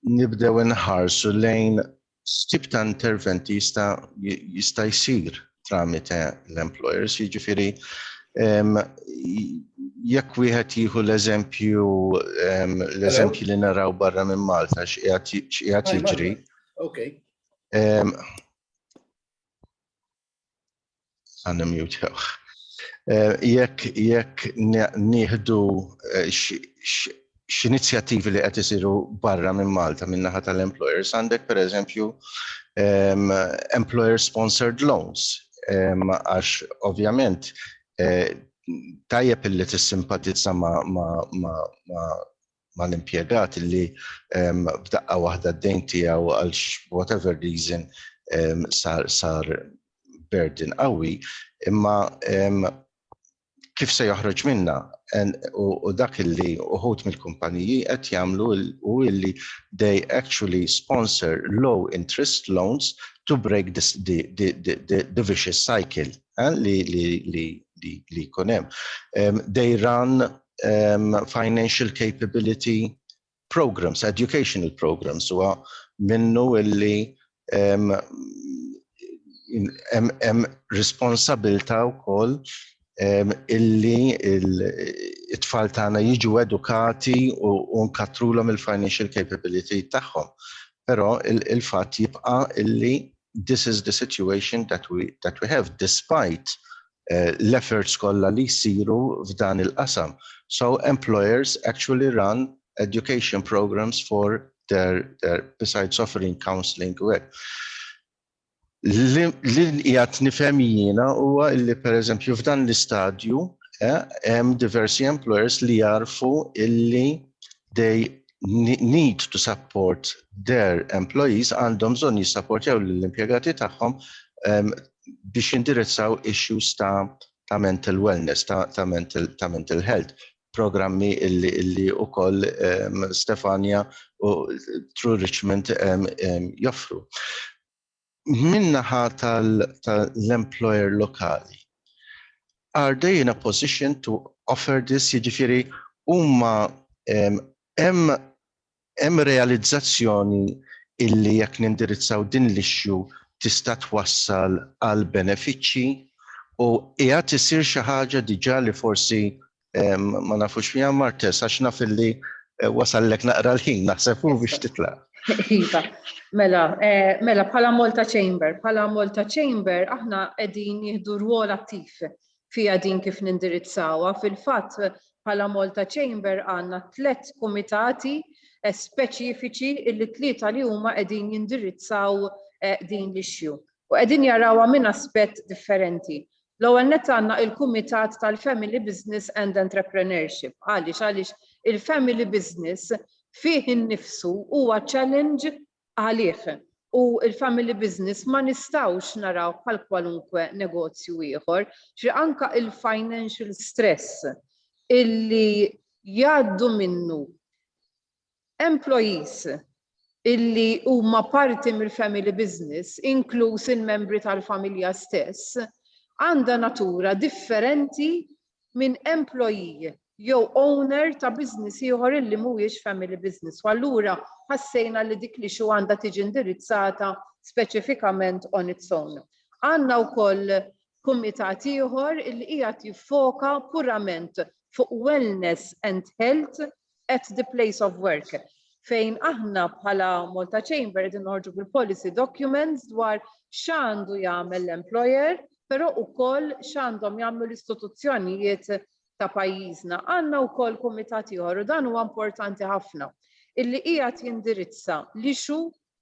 nibdew inħarsu lejn X'tip ta' interventi jista' jista' jsir tramite l-employers, jiġifieri jekk wieħed jieħu l-eżempju l-eżempju li naraw barra minn Malta x'qiegħed jiġri. Għanna mute, jawħ. Eh, jekk jekk nieħdu eh, x'inizjattivi li qed isiru barra minn Malta minn naħa tal-employers għandek pereżempju ehm, employer sponsored loans ehm, għax ovvjament eh, tajjeb illi tissimpatizza ma, ma, ma, ma mal-impjegat li b'daqqa waħda d-dejn tiegħu għal whatever reason sar sar burden qawwi, imma kif se joħroġ minna u dak illi uħut mill-kumpaniji qed jagħmlu u illi they actually sponsor low interest loans to break this, the, the, the, the, the vicious cycle eh, li, li, li, li, li kunem. Um, they run um, financial capability programs, educational programs, huwa minnu illi um, em, em responsabilta u koll um, illi it-tfal tagħna jiġu edukati u, u nkatrulhom il-financial capability tagħhom. Però il-fatt il jibqa' illi this is the situation that we, that we have, despite l-efforts kollha li jsiru f'dan il-qasam. So employers actually run education programmes for their besides offering counselling u hekk. Li qiegħed nifhem jiena huwa li pereżempju f'dan l-istadju hemm diversi employers li jagħrfu illi they need to support their employees għandhom bżonn jissapportjaw lill-impjegati tagħhom biex jindirizzaw issues ta' ta' mental wellness, ta', ta mental, ta mental health, programmi illi, illi u koll um, Stefania u True Richmond um, um, joffru. Minnaħa tal-employer tal lokali, are they in a position to offer this, jiġifieri huma hemm Hemm realizzazzjoni illi jekk nindirizzaw din l-issue tista' twassal għal benefiċċji u qiegħed isir xi ħaġa diġà li forsi ma nafux fiha Martes għax naf illi wasallek naqra l-ħin naħseb hu biex titlaq. Iva, mela, mela bħala Malta Chamber, bħala Malta Chamber aħna qegħdin nieħdu rwol attiv fiha din kif nindirizzawha. Fil-fatt, bħala Malta Chamber għandna tliet kumitati speċifiċi illi t-tlieta li huma qegħdin jindirizzaw din l-issue. U qegħdin jarawha minn aspett differenti. L-ewwel nett għandna il-Kumitat tal-Family Business and Entrepreneurship. Għaliex? Għaliex il-family business fih innifsu huwa challenge għalih u l-family business ma nistgħux naraw bħal kwalunkwe negozju ieħor. Ġifieri anke l-financial stress illi jgħaddu minnu employees illi huma parti mill-family business, inkluż il-membri tal-familja stess, għandha natura differenti minn employee jew owner ta' business ieħor illi mhuwiex family business u allura ħassejna li dik l-issue għandha tiġi indirizzata speċifikament on its own. Għandna wkoll kumitat ieħor illi qiegħed jiffoka purament fuq wellness and health at the place of work fejn aħna bħala Malta Chamber qegħdin noħorġu bil-policy documents dwar x'għandu jagħmel l-employer, però wkoll x'għandhom jagħmlu l-istituzzjonijiet ta' pajjiżna. Għandna wkoll kumitat ieħor u dan huwa importanti ħafna illi qiegħed jindirizza l-ixu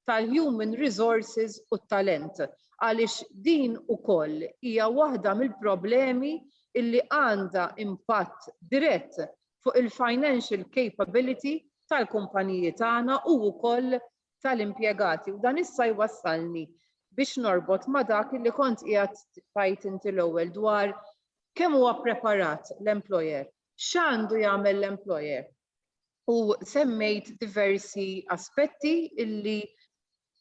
tal-human resources u t-talent għaliex din ukoll hija waħda mill-problemi li għandha impatt dirett fuq il-financial capability tal-kumpaniji tagħna u wkoll tal-impjegati. U dan issa jwassalni biex norbot ma' dak li kont qiegħed tgħid inti l-ewwel dwar kemm huwa ppreparat l-employer X'għandu jagħmel l-employer? U semmejt diversi aspetti illi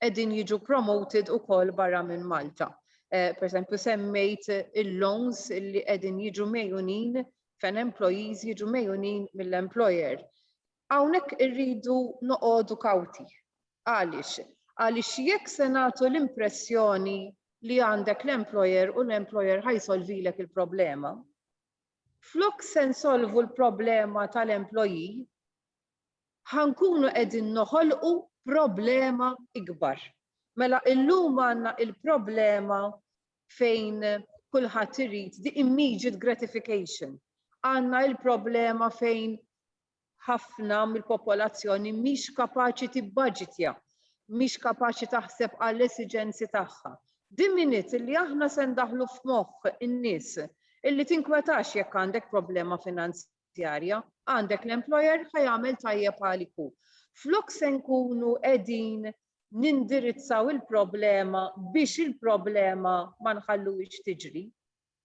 qegħdin jiġu promoted ukoll barra minn Malta. Eh, per esempio, semmejt il-loans li qegħdin jiġu mejunin fejn employees jiġu mejunin mill-employer. Hawnhekk irridu noqogħdu kawti. Għaliex? Għaliex jekk se nagħtu l-impressjoni li għandek l-employer u l-employer ħajsolvilek il-problema, Flok se nsolvu l-problema tal-employee, ħa nkunu qegħdin noħolqu problema ikbar. Mela illum għandna il-problema fejn kulħadd irid the immediate gratification. Għandna il-problema fejn ħafna mill-popolazzjoni mhix kapaċi tibbaġitja, mhix kapaċi taħseb għall-esiġenzi tagħha. Din miniet li aħna se ndaħħlu f'moħħ in-nies illi tinkwetax jekk għandek problema finanzjarja, għandek l-employer ħa jagħmel tajjeb għalik hu. Flok se nkunu qegħdin nindirizzaw il-problema biex il-problema ma nħalluhiex tiġri.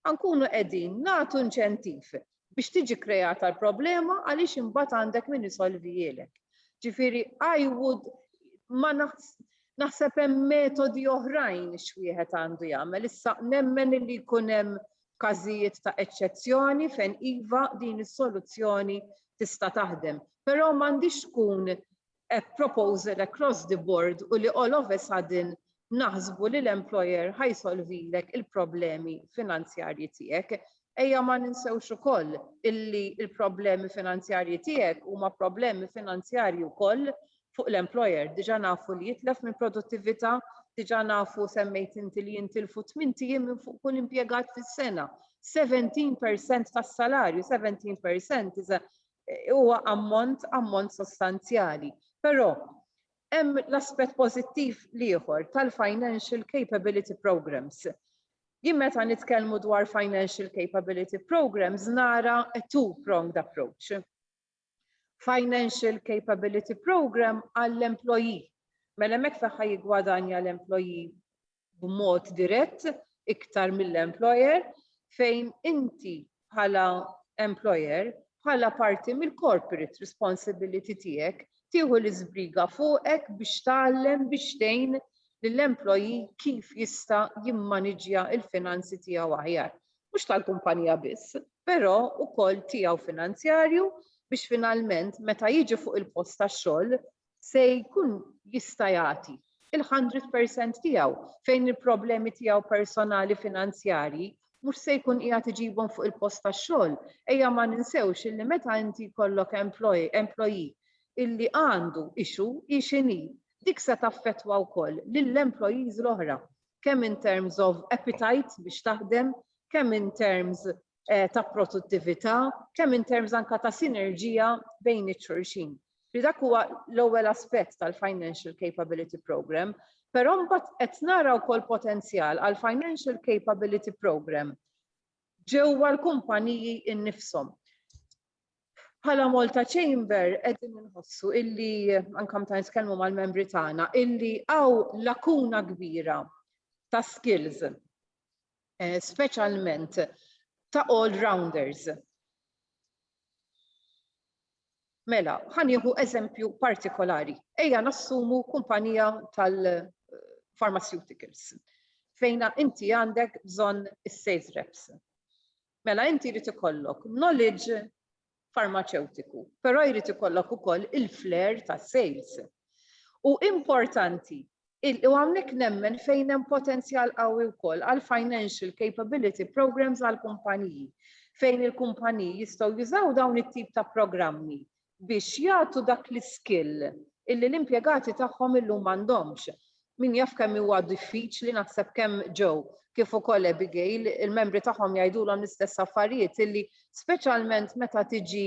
Ħa nkunu qegħdin nagħtu inċentiv biex tiġi kkreata l-problema għaliex imbagħad għandek min isolvihielek. Ġifieri I would ma naħseb hemm metodi oħrajn x'wieħed għandu jagħmel. Issa nemmen li jkun hemm każijiet ta' eċċezzjoni fejn iva din is-soluzzjoni tista' taħdem. Però m'għandix tkun a proposal across the board u li all of a sudden naħsbu li l-employer ħa jsolvilek il-problemi finanzjarji tiegħek. Ejja ma ninsewx ukoll illi l-problemi finanzjarji tiegħek huma problemi finanzjarji wkoll fuq l-employer. Diġà nafu li jitlef minn produttività, diġà nafu semmejt inti li jintilfu 8 ijiem minn fuq kull impjegat fis-sena. 17% tas-salarju, 17% is a huwa ammont ammont sostanzjali. Però hemm l-aspett pożittiv l-ieħor tal-financial capability programmes. Jien meta nitkellmu dwar financial capability programmes nara a two-pronged approach. Financial capability programme għall-employee. Mela hemmhekk fejn ħa jiggwadanja l-employee b'mod dirett iktar mill-employer fejn inti bħala employer, bħala parti mill-corporate responsibility tiegħek tieħu l-iżbriga fuqek biex tgħallem biex tgħin lill-employee kif jista' jimmaniġġja l-finanzi tiegħu aħjar. Mhux tal-kumpanija biss, però wkoll tiegħu finanzjarju biex finalment meta jiġi fuq il-post tax-xogħol se jkun jista' jagħti il-hundred percent tiegħu fejn il-problemi tiegħu personali finanzjarji mhux se jkun qiegħed iġibhom fuq il-post tax-xogħol. Ejja ma ninsewx illi meta inti jkollok employee illi għandu issue, hi x'inhi, dik se taffettwa wkoll lill-employees l-oħra, kemm in terms of appetite biex taħdem, kemm in terms eh, ta' produttività, kemm in terms anka ta' sinerġija bejn iċ-xulxin. Li dak huwa l-ewwel aspett tal-Financial Capability Program, però mbagħad qed nara wkoll potenzjal għal Financial Capability Program ġewwa l-kumpaniji innifshom. Bħala Malta Chamber qegħdin inħossu illi anke meta nitkellmu mal-membri tagħna illi hawn lakuna kbira ta' skills speċjalment ta' all-rounders. Mela, ħanieħu eżempju partikolari. Ejja nassumu kumpanija tal-pharmaceuticals fejn inti għandek bżonn is-sales reps. Mela inti jrid ikollok knowledge farmaċewtiku, però jrid ikollok ukoll il-flair tas-sales. U importanti, u hawnhekk nemmen fejn hemm potenzjal qawwi wkoll għall-financial capability programmes għall-kumpaniji, fejn il-kumpaniji jistgħu jużaw dawn it-tip ta' programmi biex jagħtu dak l-iskill illi l-impjegati tagħhom illum m'għandhomx. Min jaf kemm huwa diffiċli, naħseb kemm Joe kif ukoll Abigail, il-membri tagħhom jgħidulhom l-istess affarijiet illi speċjalment meta tiġi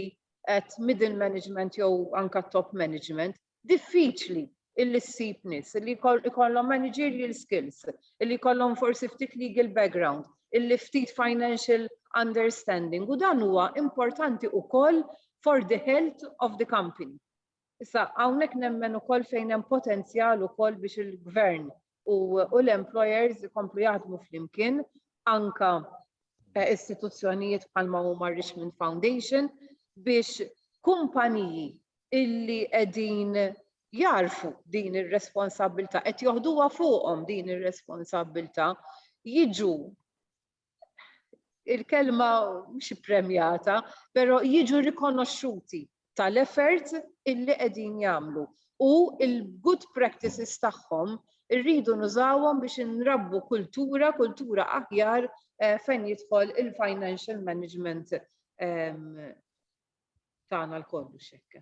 at middle management jew anke top management, diffiċli illi ssib nies illi jkollhom managerial skills, illi jkollhom forsi ftit legal background, illi ftit financial understanding u dan huwa importanti ukoll for the health of the company. Issa, hawnhekk nemmen ukoll fejn hemm potenzjal ukoll biex il-gvern u l-employers ikomplu jaħdmu flimkien, anke istituzzjonijiet bħalma huma r-Richmond Foundation, biex kumpaniji illi qegħdin jagħrfu din ir-responsabbiltà, qed joħduha fuqhom din ir-responsabbiltà, jiġu il-kelma mhux premjata, però jiġu rikonoxxuti tal-effort illi qegħdin jagħmlu u l-good practices tagħhom irridu nużawhom biex inrabbu kultura, kultura aħjar fejn jidħol il-financial management tagħna lkoll biex hekk.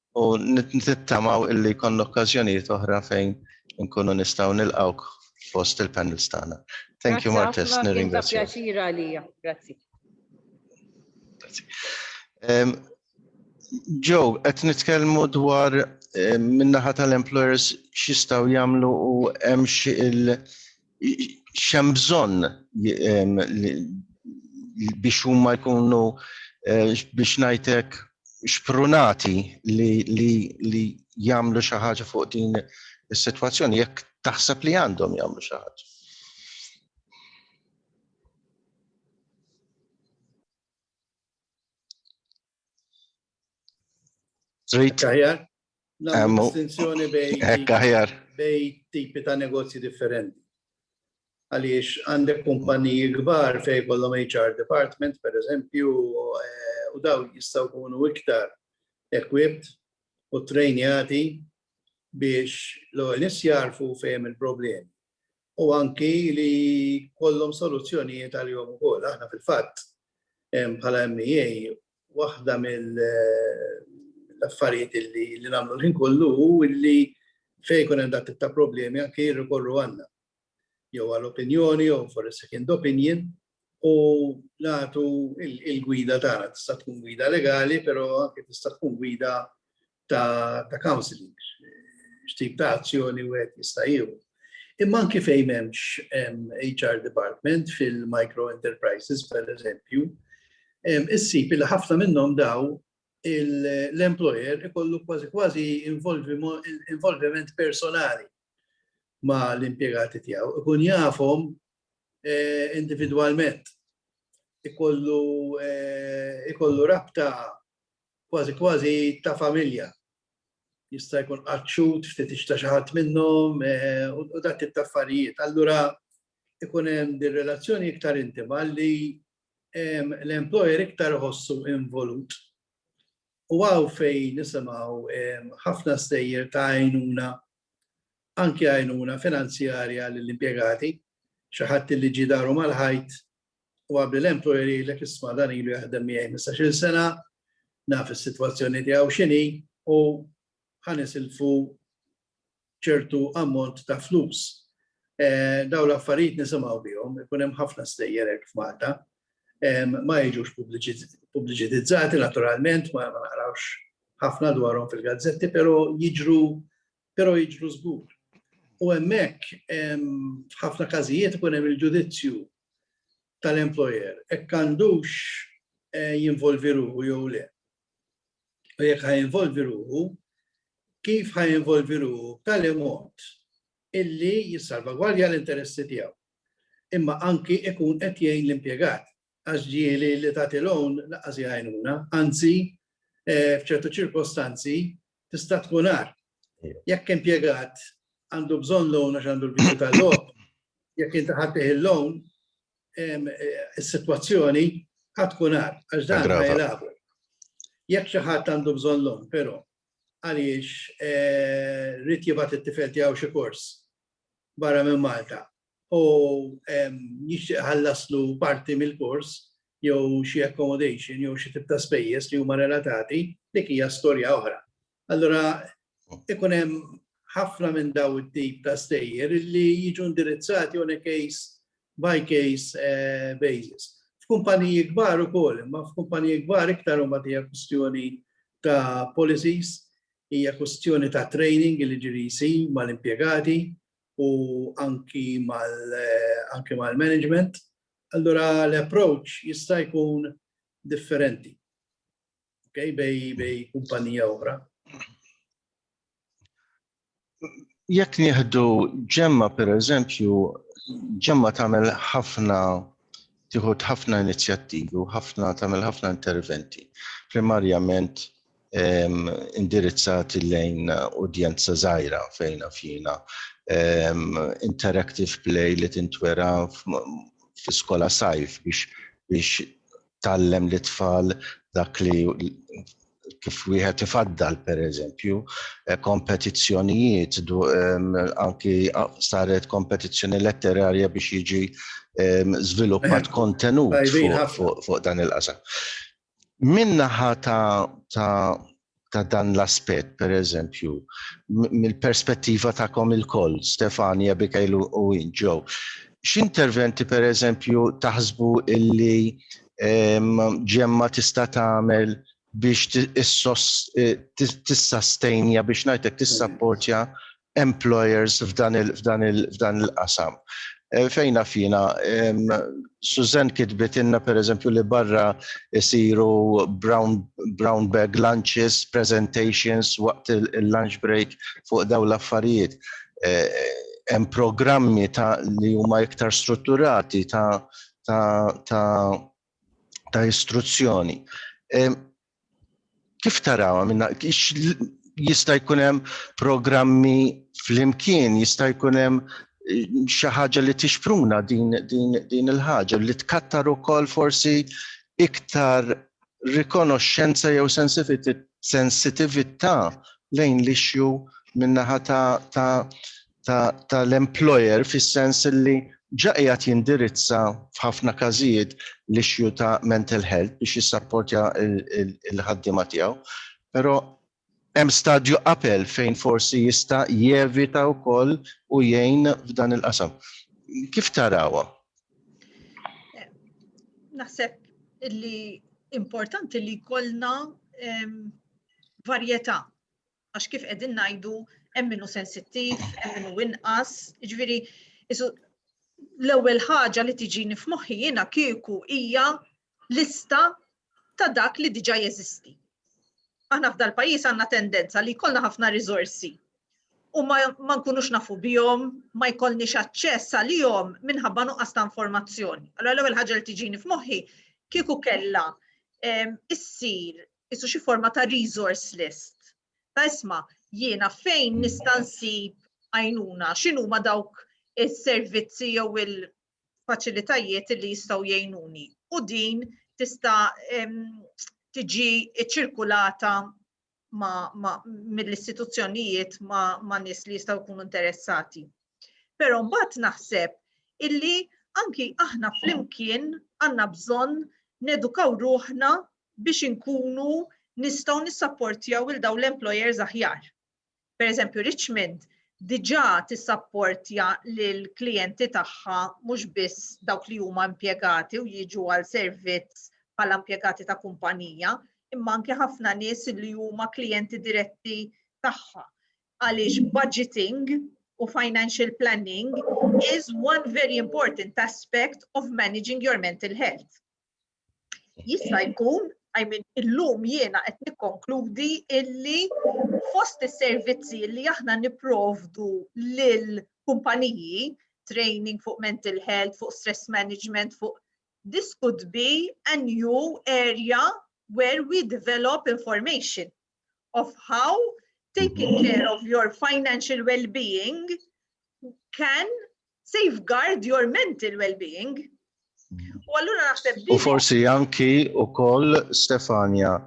U nittamaw illi jkollna okkażjonijiet oħra fejn nkunu nistgħu nilqgħuk fost il-panels tagħna. Thank you Martes, nirringrazzja. Pjaċira għalija, grazzi. Joe, qed nitkellmu dwar minnaħa tal-employers x'jistgħu jagħmlu u hemm xi xem bżonn biex huma jkunu eh, biex ngħidlek xprunati li, li, li jagħmlu xi ħaġa fuq din is-sitwazzjoni jekk taħseb li għandhom jagħmlu xi ħaġa. Trid aħjar? Distinzjoni bej tipi ta' negozji differenti. Għaliex għandek kumpaniji kbar fejn jkollhom HR department, per eżempju, u daw jistgħu jkunu iktar equipped u trainjati biex l-ewwel nies jagħrfu fejn hemm il-problemi. u anki li jkollhom soluzzjonijiet għalihom ukoll. Aħna fil-fatt bħala MEA waħda mill-affarijiet li nagħmlu l-ħin kollu hu li fejn ikun hemm dak tip ta' problemi anke jirrikorru għandna. Jew għal opinjoni jew for a second opinion u nagħtu il-gwida tagħna tista' tkun gwida legali, però anke tista' tkun gwida ta', ta counseling, x'tip ta' azzjoni wieħed jista' jieħu. Imma anke fejn hemmx HR department fil-micro enterprises, per eżempju, issib li ħafna minnhom daw l-employer ikollu kważi kważi involviment personali ma' l-impjegati tiegħu, ikun jafhom individwalment, ikollu rabta kważi kważi ta' familja. Jista' jkun qatt xhud, ftit ixta xi ħadd minnhom u dak it-tip ta' affarijiet. Allura ikun hemm din relazzjoni iktar intima li l-employer iktar iħossu involut u hawn fejn nisimgħu ħafna stejjer ta' għajnuna, anki għajnuna finanzjarja lill-impjegati, xi ħadd li ġie daru mal-ħajt u qabli l-employer jgħidlek isma' dan ilu jaħdem miegħi ħmistax-il sena, naf is-sitwazzjoni tiegħu x'inhi u ħa nisilfu ċertu ammont ta' flus. Dawn l-affarijiet nisimgħu bihom, ikun hemm ħafna stejjer hekk f'Malta. Ma jiġux pubbliċitizzati naturalment, ma naqrawx ħafna dwarhom fil-gazzetti, però jiġru però jiġru żgur. U hemmhekk f'ħafna każijiet ikun hemm il-ġudizzju tal-employer hekk għandux jinvolvi ruħu jew le. u jekk ħajinvolvi ruħu, kif ħajinvolvi ruħu b'tali mod illi jissalvagwardja l-interessi tiegħu. Imma anki ikun qed jgħin l-impjegat għax ġieli li tagħti loan laqas jgħinuna, anzi eh, f'ċertu ċirkostanzi tista' tkun għar. Jekk impjegat għandu bżonn loan għax għandu l-bidu tal-logħob, jekk inti ħaddih il-loan, is-sitwazzjoni għad tkun għar għax dan ma jilagħbu. Jekk xi ħadd għandu bżonn loan, però għaliex eh, rrid jibgħat it-tifel tiegħu xi kors barra minn Malta u jixtieq iħallaslu parti mill-kors jew xi accommodation jew xi tip ta' spejjeż li huma relatati, dik hija storja oħra. Allura ikun hemm ħafna minn dawn it-tip ta' stejjer li jiġu indirizzati on a case by case basis. F'kumpaniji kbar ukoll, imma f'kumpaniji kbar iktar imbagħad hija kwistjoni ta' policies, hija kwistjoni ta' training li jiġri jsir mal-impjegati, u anki mal-management, allura l-approach jista' jkun differenti bejn kumpanija oħra. Jekk nieħdu Gemma pereżempju, Gemma tagħmel ħafna tieħu ħafna inizjattivi u ħafna tagħmel ħafna interventi. Primarjament indirizzati lejn udjenza żgħira fejn fjina. Interactive play li tintwera fi skola sajf biex biex tallem li tfal dak li kif wieħed ifaddal per eżempju, eh, kompetizzjonijiet, anki saret kompetizzjoni letterarja biex jiġi żviluppat kontenut fuq dan il-qasam. Min-naħa ta', ta', ta' dan l-aspett, pereżempju, mill-perspettiva tagħkom ilkoll, Stefani, Abigail u Win, Joe, x'interventi pereżempju taħsbu illi ġemma tista' tagħmel biex tissastenja biex ngħidlek tissapportja employers f'dan il, f'dan il, f'dan il-qasam. Eh, fejn naf jiena, Susan kitbitilna pereżempju li barra isiru brown, brown bag lunches, presentations waqt il-lunch break fuq daw l-affarijiet. Eh, hemm programmi ta' li huma iktar strutturati ta' ta' ta' ta' istruzzjoni. Kif tarawha minna jista' jkun hemm programmi flimkien, jista' jkun hemm eh, xi ħaġa li tixpruna din, din, din il-ħaġa li tkattar ukoll forsi iktar rikonoxxenza jew sensitività lejn l-ixju minnaħa ta', ta tal-employer ta fis-sens li ġa qiegħed jindirizza f'ħafna każijiet l-issue ta' mental health biex jissapportja l-ħaddiema tiegħu. Però hemm stadju qabel fejn forsi jista' jevita wkoll u jgħin f'dan il-qasam. Kif tarawha? Naħseb li importanti li jkollna varjetà għax kif qegħdin ngħidu hemm min hu sensittiv, hemm min hu inqas, jiġifieri l-ewwel ħaġa li tiġini f'moħħi jiena kieku hija lista ta' dak li diġà jeżisti. Aħna f'dal pajjiż għandna tendenza li jkollna ħafna riżorsi u ma, ma nkunux nafu bihom, ma jkollniex aċċess għalihom minħabba nuqqas ta' informazzjoni. Allora l-ewwel ħaġa li tiġini f'moħħi kieku kellha issir isu xi forma ta' resource list. Ta' isma, jiena fejn nista' nsib għajnuna, x'inhu ma dawk is-servizzi jew il-faċilitajiet li jistgħu jgħinuni. U din tista' tiġi ċirkulata mill-istituzzjonijiet ma' nies li jistgħu jkunu interessati. Però mbagħad naħseb illi anki aħna flimkien għandna bżonn nedukaw ruħna biex inkunu nistgħu nissapportjaw lil dawn l-employers aħjar. Per eżempju, Richmond diġà tissapportja lill-klijenti tagħha mhux biss dawk li huma impjegati u jiġu għal servizz bħala impjegati ta' kumpanija, imma anke ħafna nies li huma klijenti diretti tagħha. Għaliex budgeting u financial planning is one very important aspect of managing your mental health. jista' jkun I mean, illum jiena qed nikkonkludi illi fost is-servizzi li aħna niprovdu lil kumpaniji, training fuq mental health, fuq stress management, fuq this could be a new area where we develop information of how taking care of your financial well-being can safeguard your mental well-being. U allura naħseb U forsi anki u koll Stefania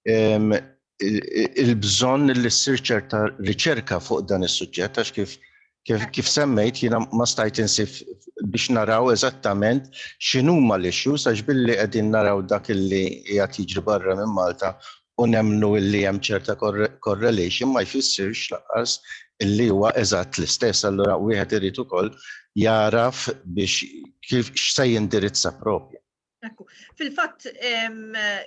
il-bżon li ssir ċerta riċerka fuq dan is-suġġett għax kif kif, kif semmejt jiena ma stajt insif biex naraw eżattament x'inhuma l-issues għax billi qegħdin naraw dak illi qiegħed jiġri barra minn Malta u nemmnu illi hemm ċerta correlation ma jfissirx lanqas illi huwa eżatt l-istess. Allura wieħed irid ukoll jagħraf biex kif x'se jindirizza proprju. Ekku. Fil-fatt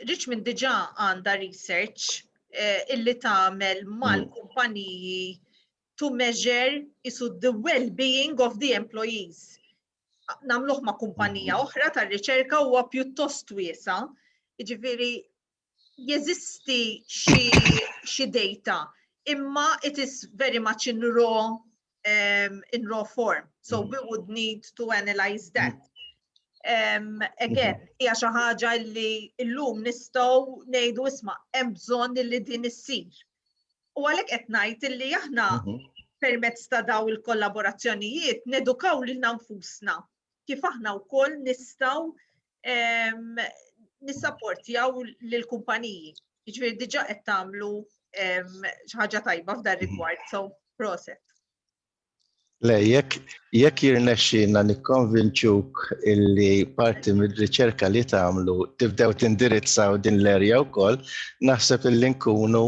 Richmond diġà għandha research eh, illi tagħmel mm. mal-kumpaniji to measure isu the well-being of the employees. Namluħ ma' kumpanija mhm. oħra tar riċerka huwa pjuttost wiesa, ġifiri jeżisti xi data, imma it is very much in raw um, in raw form. So mm. we would need to analyze that. Um, again, mm-hmm. hija xi ħaġa li llum nistgħu ngħidu isma' hemm bżonn li din issir. U għalhekk qed ngħid illi aħna mm-hmm. permezz ta' daw il-kollaborazzjonijiet nedukaw lil nfusna kif aħna wkoll nistgħu nissapportjaw lill-kumpaniji. Jiġifieri diġà qed tagħmlu xi ħaġa tajba f'dan rigward, so proset. Le, jekk jirnexxina nikkonvinċuk illi parti mir-riċerka li tagħmlu tibdew tindirizzaw din l-erja wkoll, naħseb illi nkunu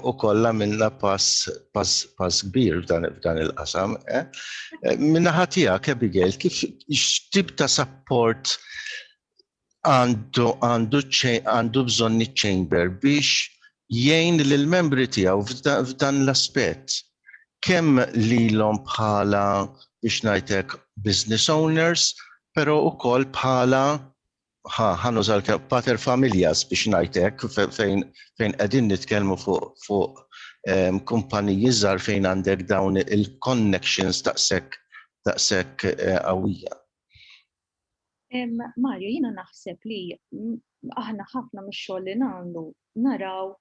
u kollha minna pass pass pass kbir f'dan f'dan il-qasam. Eh? Eh, minna ħatija Abigail kif x'tib ta' support għandu għandu għandu bżonn iċ-chamber biex jgħin lill membri tiegħu f'dan l-aspett kemm lilhom bħala biex ngħidlek business owners, però ukoll bħala ħa ħa nuża pater familjas biex ngħid hekk fejn fejn qegħdin nitkellmu fuq fuq ehm, kumpaniji żgħar fejn għandek dawn il-connections taqsek taqsek eh, qawwija. Mario, jina naħseb li aħna ħafna mix-xogħol li nagħmlu naraw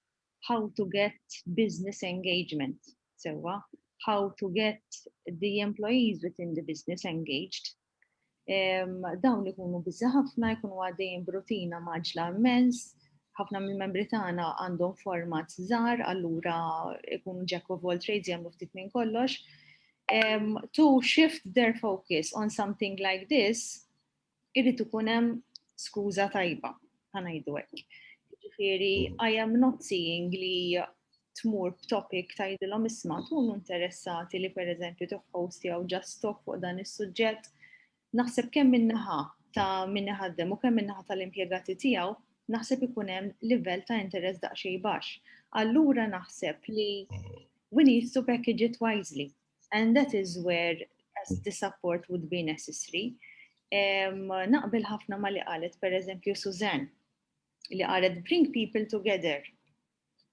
how to get business engagement sewwa, how to get the employees within the business engaged Dawn li kunu bizza ħafna jkunu għaddejjin brutina maġla immens, ħafna minn membri tagħna għandhom format żgħar, allura ikunu jack of all trades jagħmlu ftit minn kollox. Um, to shift their focus on something like this, irrid ikun hemm skuża tajba. ħanajdu hekk. Ġifieri, I am not seeing li tmur b'topic tajdilhom isma' tkun interessati li pereżempju toħħost jew just talk fuq dan is-suġġett. Naħseb kemm minnaħa ta' min iħaddem u kemm minnaħa tal-impjegati tiegħu naħseb ikun hemm livell ta' interess daqsxejn baxx. Allura naħseb li we need to package it wisely. And that is where the support would be necessary. Naqbel ħafna ma li qalet, per eżempju, Suzanne, li qalet bring people together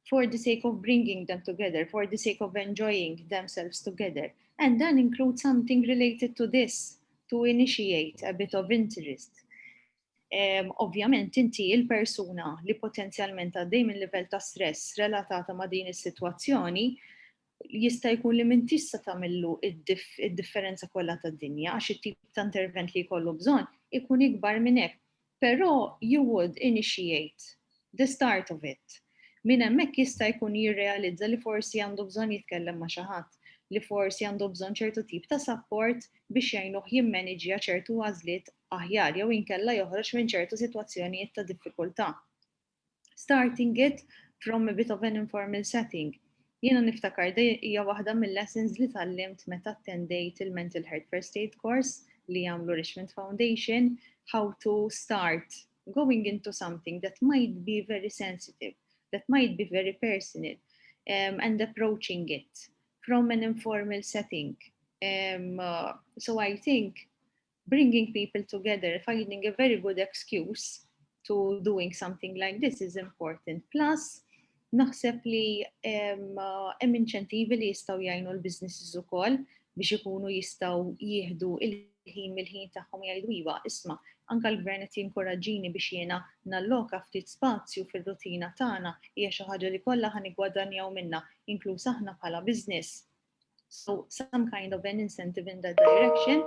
for the sake of bringing them together, for the sake of enjoying themselves together. And then include something related to this to initiate a bit of interest. Um, Ovvjament inti il-persuna li potenzjalment għaddej minn livell ta' stress relatata ma' din is-sitwazzjoni jista' jkun li m'intix se tagħmillu id-differenza kollha tad-dinja għax it-tip ta' intervent li jkollu bżonn ikun ikbar minn hekk. Però you would initiate the start of it. Minn hemmhekk jista' jkun jirrealizza li forsi għandu bżonn jitkellem ma' xi ħadd, li forsi għandu bżonn ċertu tip ta' support biex jgħinuh jimmaniġja ċertu għażliet aħjar jew inkella joħroġ minn ċertu sitwazzjonijiet ta' diffikultà. Starting it from a bit of an informal setting, jiena niftakar di hija waħda mil-lessons li tgħallimt meta attendejt il-Mental Health First Aid Course li għamlu Richmond Foundation, how to start going into something that might be very sensitive, that might be very personal, um, and approaching it from an informal setting. Um, uh, so I think bringing people together, finding a very good excuse to doing something like this is important. Plus, naħseb li hemm inċentivi li jistgħu jgħinu l-businesses ukoll biex ikunu jistgħu jieħdu il-ħin mill-ħin tagħhom jgħidu iva, isma' anka l-gvern qed jinkoraġġini biex jiena nalloka ftit spazju fir-rutina tagħna hija xi ħaġa li kollha ħa niggwadanjaw minnha, inkluż aħna bħala business. So some kind of an incentive in that direction.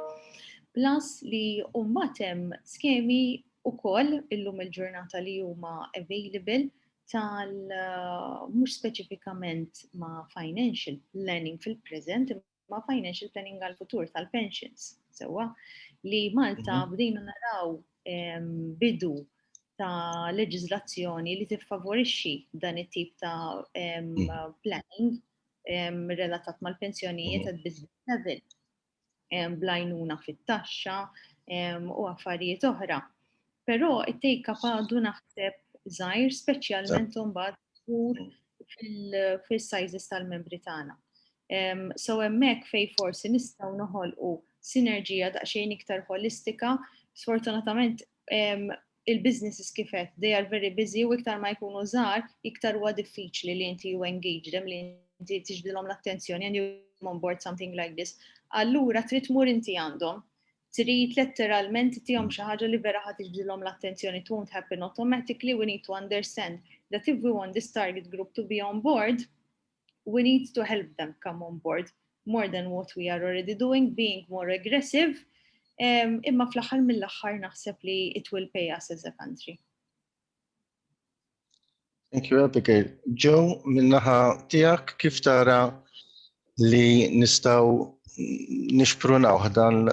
Plus li umbatem skemi u koll illum il-ġurnata li huma available tal uh, mhux speċifikament ma' financial planning fil-present, ma' financial planning għal-futur tal-pensions. Sewa li Malta mhm. bdejna naraw bidu ta' leġizlazzjoni li tiffavorixxi dan it-tip ta' mm. planning relatat mal-pensjonijiet għad business level, blajnuna fit-taxxa u affarijiet oħra. Però it-take up għadu naħseb zaħir speċjalment mbagħad ur fil-sizes tal-membri tagħna. So hemmhekk fej forsi nistgħu noħolqu sinerġija daqsxejn iktar holistika, sfortunatament il-businesses kif għedt they are very busy u iktar ma jkunu żgħar iktar huwa diffiċli li inti you engage them li inti tiġbdilhom l-attenzjoni and you on board something like this. Allura trid tmur inti għandhom trid letteralment tihom xi ħaġa li vera ħad tiġbdilhom l-attenzjoni it won't happen automatically we need to understand that if we want this target group to be on board we need to help them come on board more than what we are already doing, being more aggressive, um, imma fl-axar mill-axar naħseb li it will pay us as a country. Thank you, Abigail. Joe, minnaħa tijak, kif tara li nistaw nixprunaw dan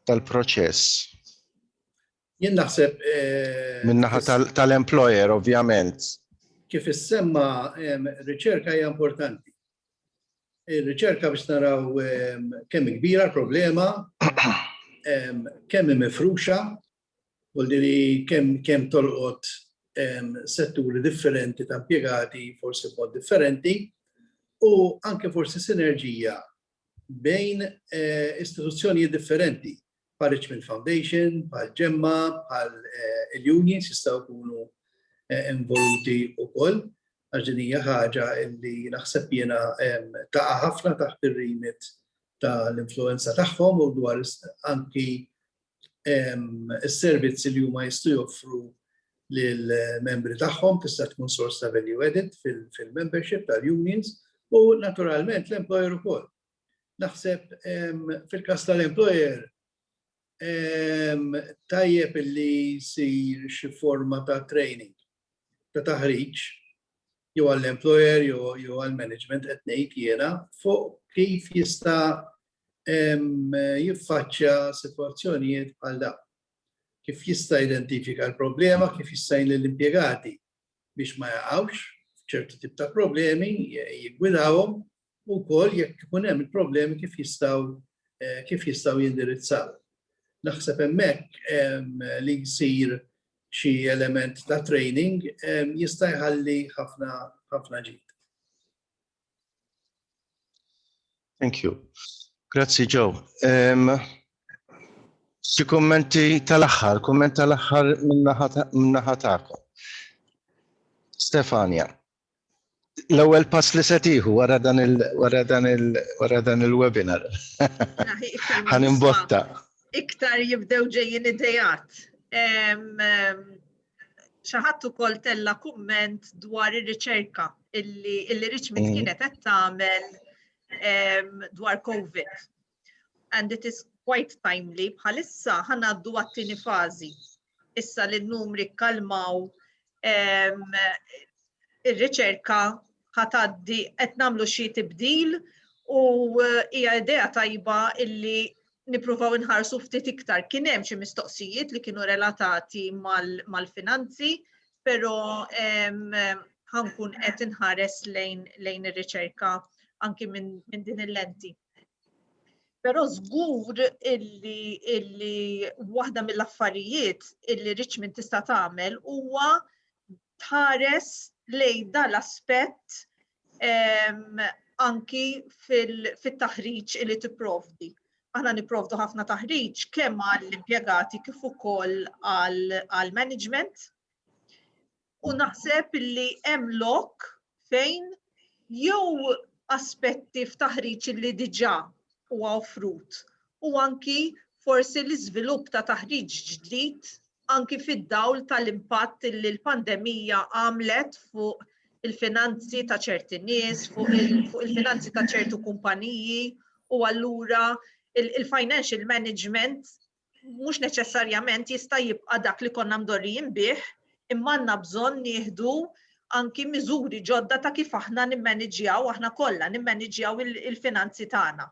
dal-proċess? Jien naħseb. Eh, Min-naħa tal-employer, ovvjament. Kif issemma riċerka hija importanti. Ir-riċerka biex naraw kemm kbira l-problema, kemm mifruxa, u li kemm kemm tolqot setturi differenti ta' impjegati, forsi mod differenti, u anke forsi sinerġija bejn istituzzjonijiet differenti bħal Richmond Foundation, bħal Ġemma, bħal il-unions jistgħu jkunu involuti wkoll għax din hija ħaġa li naħseb jiena taqa' ħafna taħt ir-remit tal-influenza tagħhom u dwar anki is-servizzi li huma jistgħu joffru lill-membri tagħhom tista' tkun sors ta' value added fil-membership tal-unions u naturalment l-employer ukoll. Naħseb fil-każ tal-employer tajjeb li jsir xi forma ta' training ta' taħriġ jew għall-employer jew għall-management qed ngħid jiena fuq kif jista' jiffaċċja sitwazzjonijiet bħal da. Kif jista' identifika l-problema, kif jista' jgħin l-impjegati biex ma jaqgħux f'ċertu tip ta' problemi, jigwidawhom u wkoll jekk ikun hemm il-problemi kif jistgħu kif jistgħu jindirizzaw. Naħseb hemmhekk li jsir xi element ta' training jista' jħalli ħafna ħafna ġid. Thank you. Grazzi Joe. Um, Xi kummenti tal-aħħar, kumment tal-aħħar minnaħa tagħkom. Stefania. L-ewwel pass li se tieħu wara dan il wara dan il wara dan il-webinar. Ħan imbotta. Iktar jibdew ġejjin idejat. Xi ħadd ukoll tella' kumment dwar ir-riċerka illi Richmond mm. kienet qed tagħmel dwar COVID. and it is quite timely, bħalissa ħa ngħaddu għat-tieni fażi. Issa li n-numri kkalmaw ir-riċerka ħa tgħaddi qed nagħmlu xi tibdil u eh, hija idea tajba illi nipruvaw inħarsu ftit iktar. Kien hemm xi mistoqsijiet li kienu relatati mal-finanzi, però ħankun qed inħares lejn ir-riċerka anki minn din il-lenti. Però żgur illi illi waħda mill-affarijiet illi Richmond tista' tagħmel huwa tħares lejn dan l-aspett ehm, anki fit-taħriġ fil li tipprovdi. Aħna nipprovdu ħafna taħriġ kemm għall-impjegati kif ukoll għall-management. U naħseb li hemm lok fejn jew aspetti f'taħriġ li diġà huwa offrut u anki forsi l-iżvilupp ta' taħriġ ġdid anki fid-dawl tal-impatt li l-pandemija għamlet fuq il-finanzi ta' ċerti nies, fuq il-finanzi ta' ċertu kumpaniji u allura il-financial management mhux neċessarjament jista' jibqa' dak li konna mdorrijin bih, imma għandna bżonn nieħdu anki miżuri ġodda ta' kif aħna nimmaniġġjaw aħna kollha nimmaniġġjaw il-finanzi tagħna.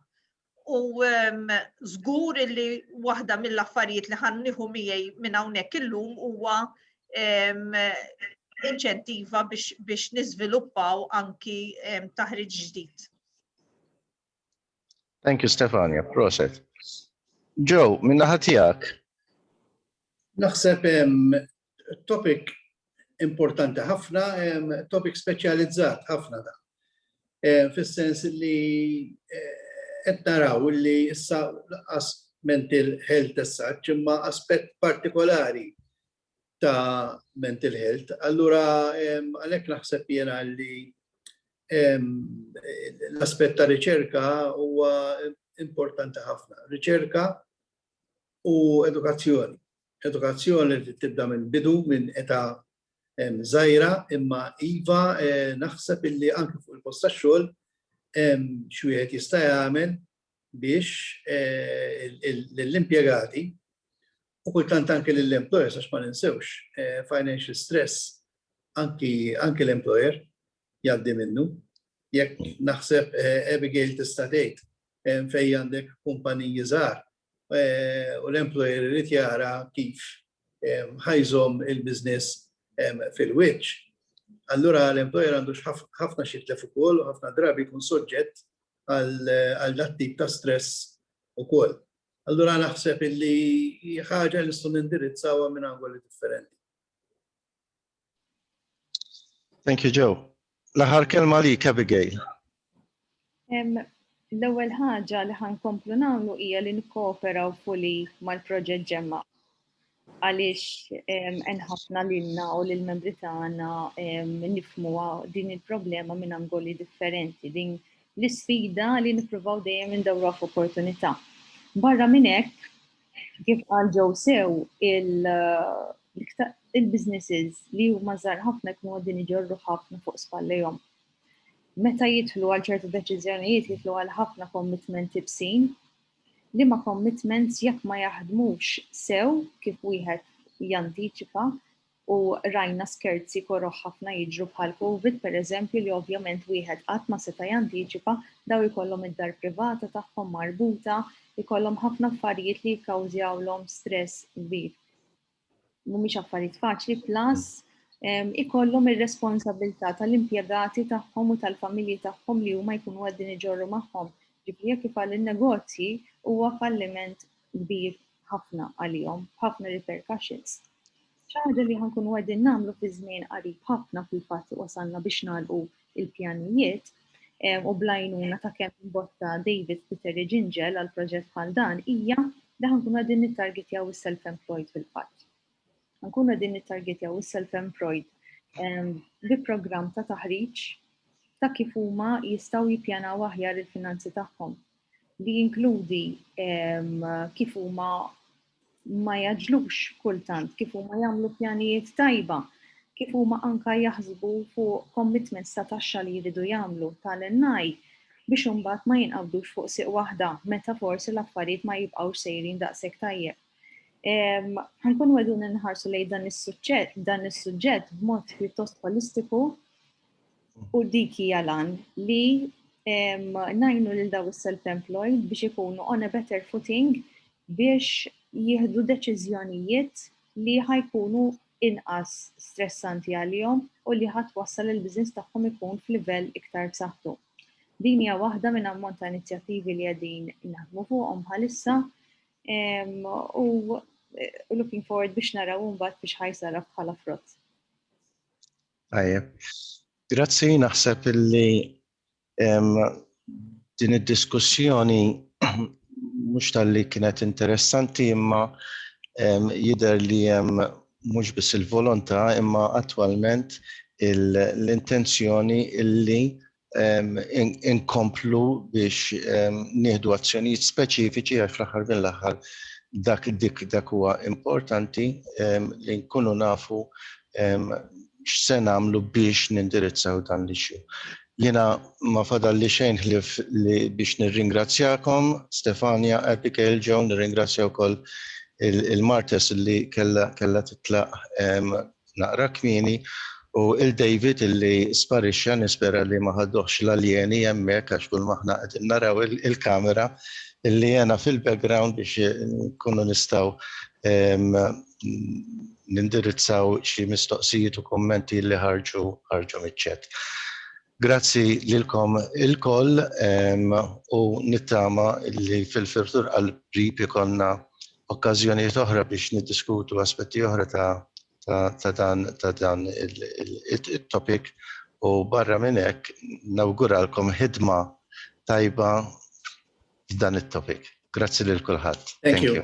U ehm, żgur li waħda mill-affarijiet li ħan nieħu miegħi minn hawnhekk illum huwa ehm, inċentiva biex niżviluppaw anki ehm, taħriġ ġdid. Thank you Stefania, proset. Joe, minna ħatijak. Naħseb topic importanti ħafna, topic speċjalizzat ħafna da. Fis-sens li qed naraw li issa laqas mental health as such imma aspett partikolari ta' mental health. Allura għalhekk naħseb jiena li l-aspett ta' riċerka huwa importanti ħafna. Riċerka u edukazzjoni. Edukazzjoni li tibda minn bidu, minn età żgħira, imma iva naħseb illi anke fuq il-post tax-xogħol xi wieħed jista' jagħmel biex lill-impjegati u kultant anke lill-employers għax ma ninsewx financial stress anke l-employer jgħaddi minnu. Jekk naħseb Abigail tista' tgħid fejn għandek kumpaniji żgħar u l-employer irid jara kif ħa jżomm il-business fil-wiċċ, allura l-employer għandu ħafna xi jitlef ukoll u ħafna drabi jkun soġġett għal dat-tip ta' stress ukoll. Allura naħseb illi hi ħaġa li nistgħu nindirizzawha minn angoli differenti. Thank you, Joe. L-aħħar kelma li Abigail. L-ewwel ħaġa li ħankomplu nagħmlu hija li nikkooperaw fuli mal-proġett ġemma. għaliex enħafna lilna u lill-membri tagħna nifmu din il-problema minn angoli differenti, din l-isfida li nippruvaw dejjem indawra f'opportunità. Barra minn hekk, kif qal ġew sew il-businesses li huma żgħar ħafna jkunu għadin iġorru ħafna fuq spallejhom. Meta jidħlu għal ċertu deċiżjonijiet jidħlu għal ħafna commitment ibsin Liema commitments jekk ma jaħdmux sew kif wieħed jantiċipa u rajna skerzi koroh ħafna jiġru bħal covid pereżempju li ovvjament wieħed qatt ma seta' jantiċipa, daw ikollhom id-dar privata tagħhom marbuta, ikollhom ħafna affarijiet li jikkawżjawlhom stress kbir. mhumiex affarijiet faċli plus ikollhom ir-responsabilità tal-impjegati tagħhom u tal-familji tagħhom li huma jkunu qegħdin iġorru magħhom. Ġifieri jekk ifalli n-negozji huwa falliment kbir ħafna għalihom, ħafna repercussions. Xi ħaġa li ħankunu qegħdin nagħmlu fi żmien qarib ħafna fil-fatt wasalna biex nagħlqu il-pjanijiet u blajnuna ta' kemm imbotta David Peter Iġinġel għal proġett bħal dan hija li ħankunu qegħdin nittargetjaw is-self-employed fil-fatt. Ħankunu qegħdin nittargetjaw is-self-employed bi programm ta' taħriġ ta' kif huma jistgħu jippjanaw aħjar il-finanzi tagħhom li jinkludi kif huma ma jaġlux kultant kif huma jagħmlu pjanijiet tajba, kif huma anka jaħsbu fuq commitments ta' taxxa li jridu jagħmlu tal-NI biex imbagħad ma jinqabdux fuq siq waħda meta forsi l-affarijiet ma jibqgħux sejrin daqshekk tajjeb. Ħankun wedu nħarsu lejn dan is-suġġett dan is-suġġett b'mod pjuttost holistiku u dik hija lan li najnu lil daw is-self-employed biex ikunu on a better footing biex jieħdu deċiżjonijiet li ħa jkunu inqas stressanti għalihom u li ħa twassal li l-business tagħhom ikun f'livell iktar b'saħħtu. Din hija waħda minn ammont ta' inizjattivi li qegħdin naħdmu fuqhom bħalissa u looking forward biex naraw mbagħad biex ħajsara bħala frott. Tajjeb. Grazzi, naħseb illi Din id-diskussjoni mhux talli kienet interessanti imma jidher li hemm mhux biss il-volontà imma attwalment l-intenzjoni illi inkomplu biex nieħdu azzjonijiet speċifiċi għax fl-aħħar mill-aħħar dak dik dak huwa importanti li nkunu nafu x'se nagħmlu biex nindirizzaw dan l-issue. Jiena ma fadalli xejn ħlief li biex nirringrazzjakom, Stefania, Abigail, Joe, nirringrazzja wkoll il-Martes li kellha titlaq naqra kmieni u 'l David li sparixxa, nispera li ma ħaduhx l-aljeni hemmhekk għax kulma aħna qegħdin naraw il-kamera li għena fil-background biex inkunu nistgħu nindirizzaw xi mistoqsijiet u kummenti li ħarġu ħarġu miċ-chat. Grazzi lilkom ilkoll u nittama li fil-firtur qal-qrib ikollna okkażjonijiet oħra biex niddiskutu aspetti oħra ta' ta' dan ta' dan il-topic u barra minn hekk nawguralkom ħidma tajba f'dan it-topic. Grazzi lil kulħadd. Thank you.